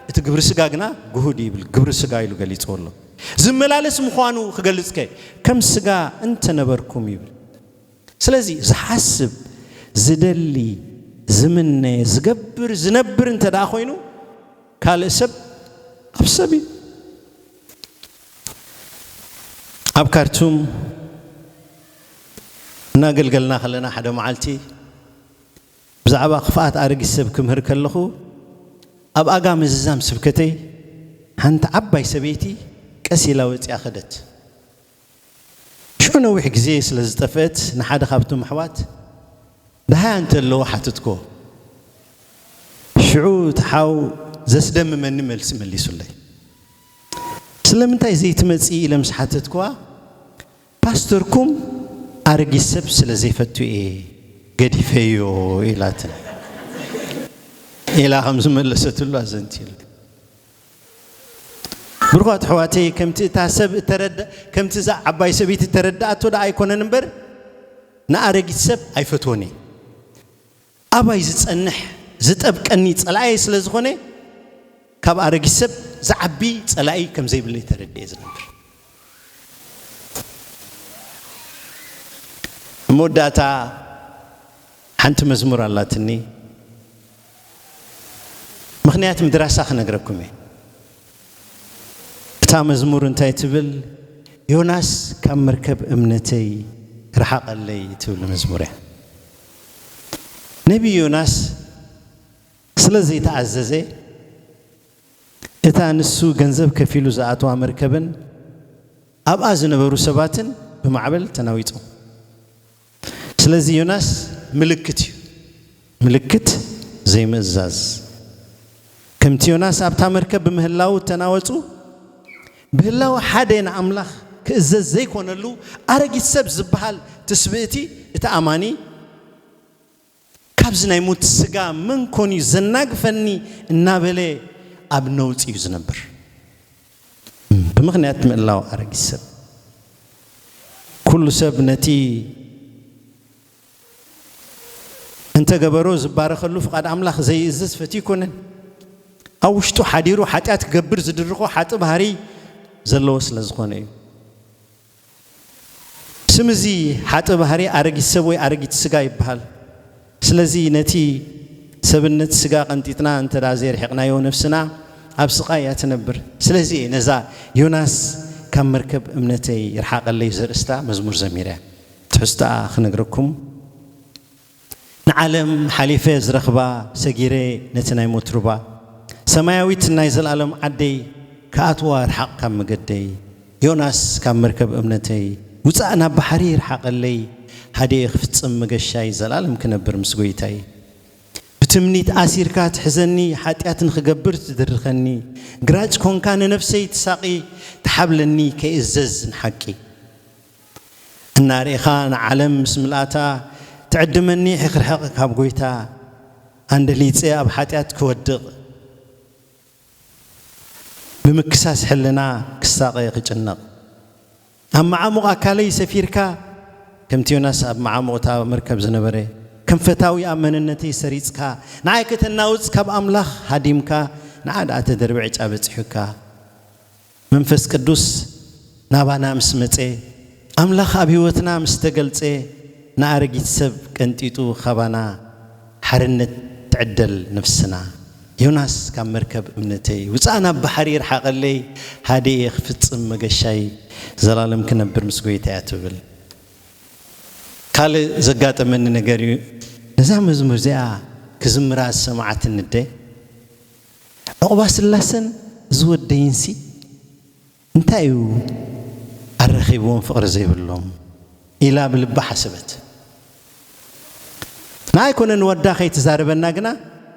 እቲ ግብሪ ስጋ ግና ግሁድ ይብል ግብሪ ስጋ ኢሉ ገሊጽዎ ኣሎ። ዝመላለስ ምዃኑ ክገልጽከ ከም ስጋ እንተነበርኩም ይብል። ስለዚ ዝሓስብ፣ ዝደሊ፣ ዝምነ፣ ዝገብር፣ ዝነብር እንተደኣ ኮይኑ ካልእ ሰብ ኣብ ሰብ እዩ። ኣብ ካርቱም እናገልገልና ከለና ሓደ መዓልቲ ብዛዕባ ክፍኣት ኣረጊት ሰብ ክምህር ከለኹ ኣብ ኣጋ ምዝዛም ስብከተይ ሓንቲ ዓባይ ሰበይቲ ቀስ ኢላ ወፂኣ ከደት። ሽዑ ነዊሕ ግዜ ስለ ዝጠፍእት ንሓደ ካብቶም ኣሕዋት ደሃያ እንተ ኣለዎ ሓተትክዎ። ሽዑ እቲ ሓው ዘስደምመኒ መልሲ መሊሱለይ። ስለምንታይ ዘይትመጺ ኢለ ምስ ሓተትክዋ ፓስተርኩም ኣረጊት ሰብ ስለ ዘይፈቱ እየ ገዲፈዮ ኢላትኒ ኢላ ከም ዝመለሰትሉ ኣዘንትዩለይ። ብሩኻት ኣሕዋተይ ከምቲ እታ ሰብ እተረዳ ከምቲ እዛ ዓባይ ሰበይቲ እተረድኣቶ ደኣ ኣይኮነን እምበር ንኣረጊት ሰብ ኣይፈትዎን እየ ኣባይ ዝጸንሕ ዝጠብቀኒ ጸላኣየ ስለ ዝኾነ ካብ ኣረጊት ሰብ ዝዓቢ ጸላኢ ከም ዘይብለይ ተረድኤ ዝነብር መወዳእታ ሓንቲ መዝሙር ኣላትኒ ምኽንያትም ድራሳ ክነግረኩም እየ እታ መዝሙር እንታይ ትብል ዮናስ ካብ መርከብ እምነተይ ርሓቐለይ ትብል መዝሙር እያ ነቢ ዮናስ ስለ ዘይተኣዘዘ እታ ንሱ ገንዘብ ከፊሉ ዝኣተዋ መርከብን ኣብኣ ዝነበሩ ሰባትን ብማዕበል ተናዊጾም ስለዚ ዮናስ ምልክት እዩ ምልክት ዘይምእዛዝ። ከምቲ ዮናስ ኣብታ መርከብ ብምህላዉ እተናወጹ ብህላወ ሓደ ንኣምላኽ ክእዘዝ ዘይኮነሉ ኣረጊት ሰብ ዝበሃል ትስብእቲ እቲ ኣማኒ፣ ካብዚ ናይ ሙት ስጋ መን ኮን እዩ ዘናግፈኒ እናበለ ኣብ ነውጺ እዩ ዝነብር። ብምኽንያት ምእላው ኣረጊት ሰብ ኩሉ ሰብ ነቲ እንተገበሮ ዝባረኸሉ ፍቓድ ኣምላኽ ዘይእዝዝ ፈትዩ ኣይኮነን። ኣብ ውሽጡ ሓዲሩ ሓጢኣት ክገብር ዝድርኾ ሓጢ ባህሪ ዘለዎ ስለ ዝኾነ እዩ። ስም እዚ ሓጥእ ባህሪ ኣረጊት ሰብ ወይ ኣረጊት ስጋ ይበሃል። ስለዚ ነቲ ሰብነት ስጋ ቀንጢጥና እንተ ዘየርሒቕናዮ ነፍስና ኣብ ስቓይ እያ ትነብር። ስለዚ እየ ነዛ ዮናስ ካብ መርከብ እምነተይ ይርሓቐለይ ዘርእስታ መዝሙር ዘሚረ። ትሕዝቶኣ ክነግረኩም። ንዓለም ሓሊፈ ዝረኽባ ሰጊረ ነቲ ናይ ሞት ሩባ ሰማያዊት ናይ ዘልኣለም ዓደይ ክኣትዋ ርሓቕ ካብ መገደይ ዮናስ ካብ መርከብ እምነተይ ውጻእ ናብ ባሕሪ ይርሓቐለይ ሃድየ ክፍጽም መገሻይ ዘልኣለም ክነብር ምስ ጎይታይ ብትምኒት ኣሲርካ ትሕዘኒ ሓጢኣት ንኽገብር ትድርኸኒ ግራጭ ኮንካ ንነፍሰይ ትሳቒ ትሓብለኒ ከይእዘዝ ንሓቂ። እናርኢኻ ንዓለም ምስ ምልኣታ ትዕድመኒ ኺርሕቕ ካብ ጐይታ ኣንደሊጸ ኣብ ሓጢኣት ክወድቕ ብምክሳስ ሕልና ክሳቐ ክጭነቕ ኣብ መዓሙቕ ኣካለይ ሰፊርካ ከምቲ ዮናስ ኣብ መዓሙቕ እታ መርከብ ዝነበረ ከም ፈታዊ ኣብ መንነተይ ሰሪጽካ ንዓይ ከተናውጽ ካብ ኣምላኽ ሃዲምካ ንዓ ደኣ ተደርቢ ዕጫ በጺሑካ መንፈስ ቅዱስ ናባና ምስ መጸ፣ ኣምላኽ ኣብ ሕይወትና ምስ ተገልጸ፣ ንኣረጊት ሰብ ቀንጢጡ ካባና ሓርነት ትዕደል ነፍስና። ዮናስ ካብ መርከብ እምነተይ ውጻእ ናብ ባሕሪ ይርሓቐለይ ሃዲኤ ክፍጽም መገሻይ ዘላለም ክነብር ምስ ጎይታይ እያ ትብል። ካልእ ዘጋጠመኒ ነገር እዩ። ነዛ መዝሙር እዚኣ ክዝምራ ዝሰምዓትኒ ኣደ፣ ዑቕባስላሰን እዚ ወደይንሲ እንታይ እዩ ኣረኺብዎም ፍቕሪ ዘይብሎም? ኢላ ብልባ ሓሰበት። ንኣይ ኮነ ንወዳ ከይትዛረበና ግና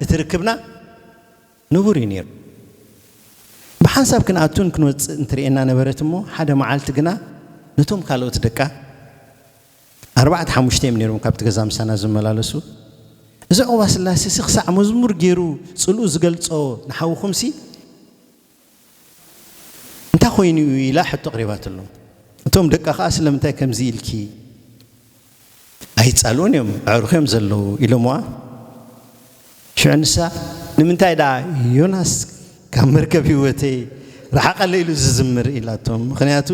እቲ ርክብና ንቡር እዩ ነይሩ። ብሓንሳብ ክንኣቱን ክንወጽእን ትርእየና ነበረት እሞ ሓደ መዓልቲ ግና ነቶም ካልኦት ደቃ፣ ኣርባዕተ ሓሙሽተ እዮም ነይሮም ካብቲ ገዛ ምሳና ዝመላለሱ። እዚ ዑቕባስላሴሲ ክሳዕ መዝሙር ገይሩ ጽልኡ ዝገልጾ ንሓውኹምሲ እንታይ ኮይኑ እዩ ኢላ ሕቶ ኣቕሪባትሎም። እቶም ደቃ ከኣ ስለምንታይ ከምዚ ኢልኪ ኣይጻልኡን እዮም ኣዕሩኽ እዮም ዘለዉ ኢሎምዋ። ሽዑ ንሳ ንምንታይ ደኣ ዮናስ ካብ መርከብ ህይወተይ ረሓቐለ ኢሉ ዝዝምር ኢላቶም። ምኽንያቱ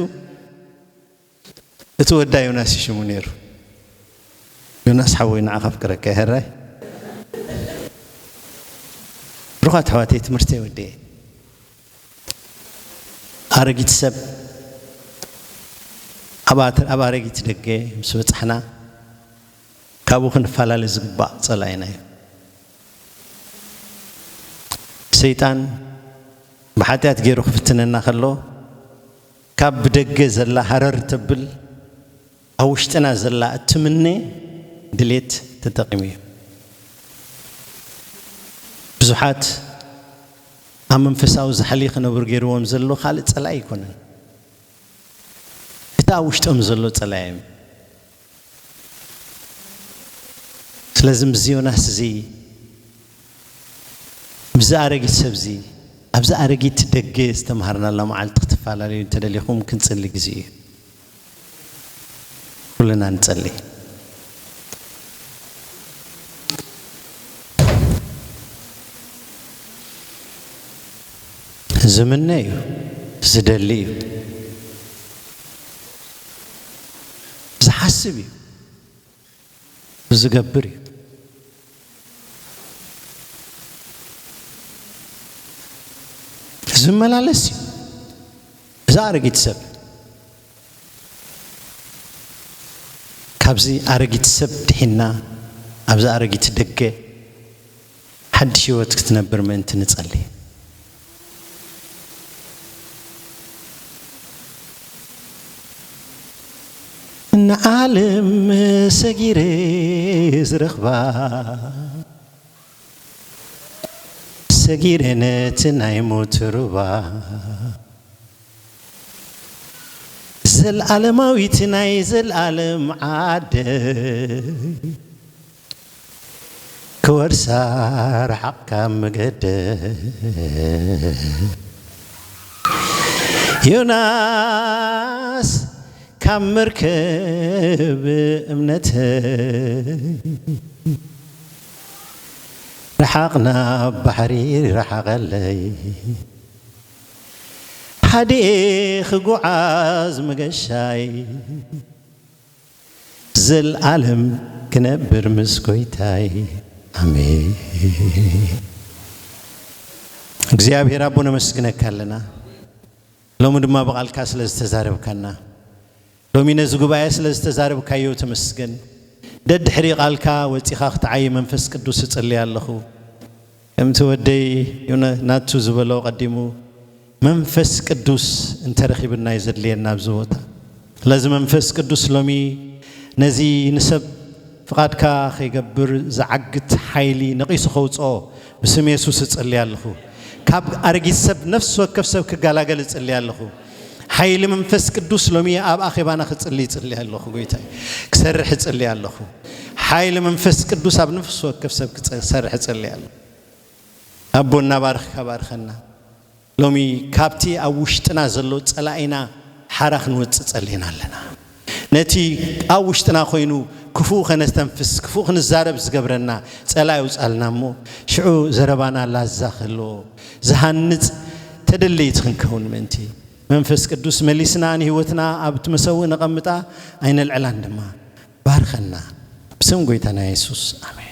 እቲ ወዳ ዮናስ እዩ ሽሙ ነይሩ። ዮናስ ሓወይ ንዓኻ ኣፍቅረካ እየ ሀራይ ብሩኻት ኣሕዋተይ ትምህርተይ ወዲኤ ኣረጊት ሰብ ኣብ ኣረጊት ደገ ምስ በጻሕና ካብኡ ክንፈላለ ዝግባእ ጸላኢና እዩ ሰይጣን ብሓጢኣት ገይሩ ክፍትነና ከሎ ካብ ብደገ ዘላ ሃረር ተብል ኣብ ውሽጥና ዘላ እትምነ ድሌት ተጠቂሙ እዩ። ብዙሓት ኣብ መንፈሳዊ ዛሕሊ ክነብሩ ገይርዎም ዘሎ ካልእ ጸላኢ ኣይኮነን። እቲ ኣብ ውሽጦም ዘሎ ጸላኢም እዩ። ስለዚ ምስዚ ዮናስ እዚ ምስዚ ኣረጊት ሰብ እዚ ኣብዚ ኣረጊት ደገ ዝተምሃርናላ መዓልቲ ክትፈላለዩ እንተደሊኹም ክንጽሊ ግዜ እዩ። ኩልና ንጸሊ። ዝምነ እዩ ዝደሊ እዩ። ዝሓስብ እዩ ዝገብር እዩ ዝመላለስ እዩ እዛ ኣረጊት ሰብ ካብዚ ኣረጊት ሰብ ድሒና ኣብዚ ኣረጊት ደገ ሓድሽ ሕይወት ክትነብር ምእንቲ ንጸሊ። ንዓለም ሰጊረ ዝረኽባ። ሰጊረ ነቲ ናይ ሞት ሩባ። ዘልኣለማዊት ናይ ዘልኣለም ዓደይ። ክወርሳ ርሓቕ ካብ መገደይ ዮናስ ካብ መርከብ እምነተይ ርሓቕ ናብ ባሕሪ ርሓቐለይ ሓዲኤ ክጉዓዝ መገሻይ ዘልኣለም ክነብር ምስ ጎይታይ ኣሜን። እግዚኣብሔር ኣቦ ነመስግነካ ኣለና ሎሚ ድማ ብቓልካ ስለ ዝተዛረብካና ሎሚ ነዚ ጉባኤ ስለ ዝተዛረብካዮ ተመስገን። ደድሕሪ ቓልካ ወጺኻ ክትዓይ መንፈስ ቅዱስ እጽልይ ኣለኹ። ከምቲ ወደይ ዩነ ናቱ ዝበሎ ቀዲሙ መንፈስ ቅዱስ እንተረኪብና እዩ ዘድልየና ኣብዚ ቦታ ስለዚ መንፈስ ቅዱስ ሎሚ ነዚ ንሰብ ፍቃድካ ከይገብር ዝዓግት ሓይሊ ነቂሱ ከውጽኦ ብስም የሱስ እጽልይ ኣለኹ ካብ ኣረጊት ሰብ ነፍሲ ወከፍ ሰብ ክጋላገል እጽልይ ኣለኹ ሓይሊ መንፈስ ቅዱስ ሎሚ ኣብ ኣኼባና ክጽሊ ይጽሊ ኣለኹ ጎይታይ ክሰርሕ ይጽሊ ኣለኹ ሓይሊ መንፈስ ቅዱስ ኣብ ነፍሲ ወከፍ ሰብ ክሰርሕ ይጽሊ ኣለኹ ኣቦ እናባርኽካ ባርኸና ሎሚ ካብቲ ኣብ ውሽጥና ዘሎ ጸላኢና ሓራ ክንወጽእ ጸሊና ኣለና ነቲ ኣብ ውሽጥና ኮይኑ ክፉእ ከነስተንፍስ ክፉእ ክንዛረብ ዝገብረና ጸላኢ ኣውጻልና እሞ ሽዑ ዘረባና ላዛ ክህልዎ ዝሃንጽ ተደለይቲ ክንከውን ምእንቲ መንፈስ ቅዱስ መሊስና ንህይወትና ኣብቲ መሰውእ ነቐምጣ ኣይነልዕላን ድማ ባርኸና ብስም ጎይታና የሱስ ኣሜን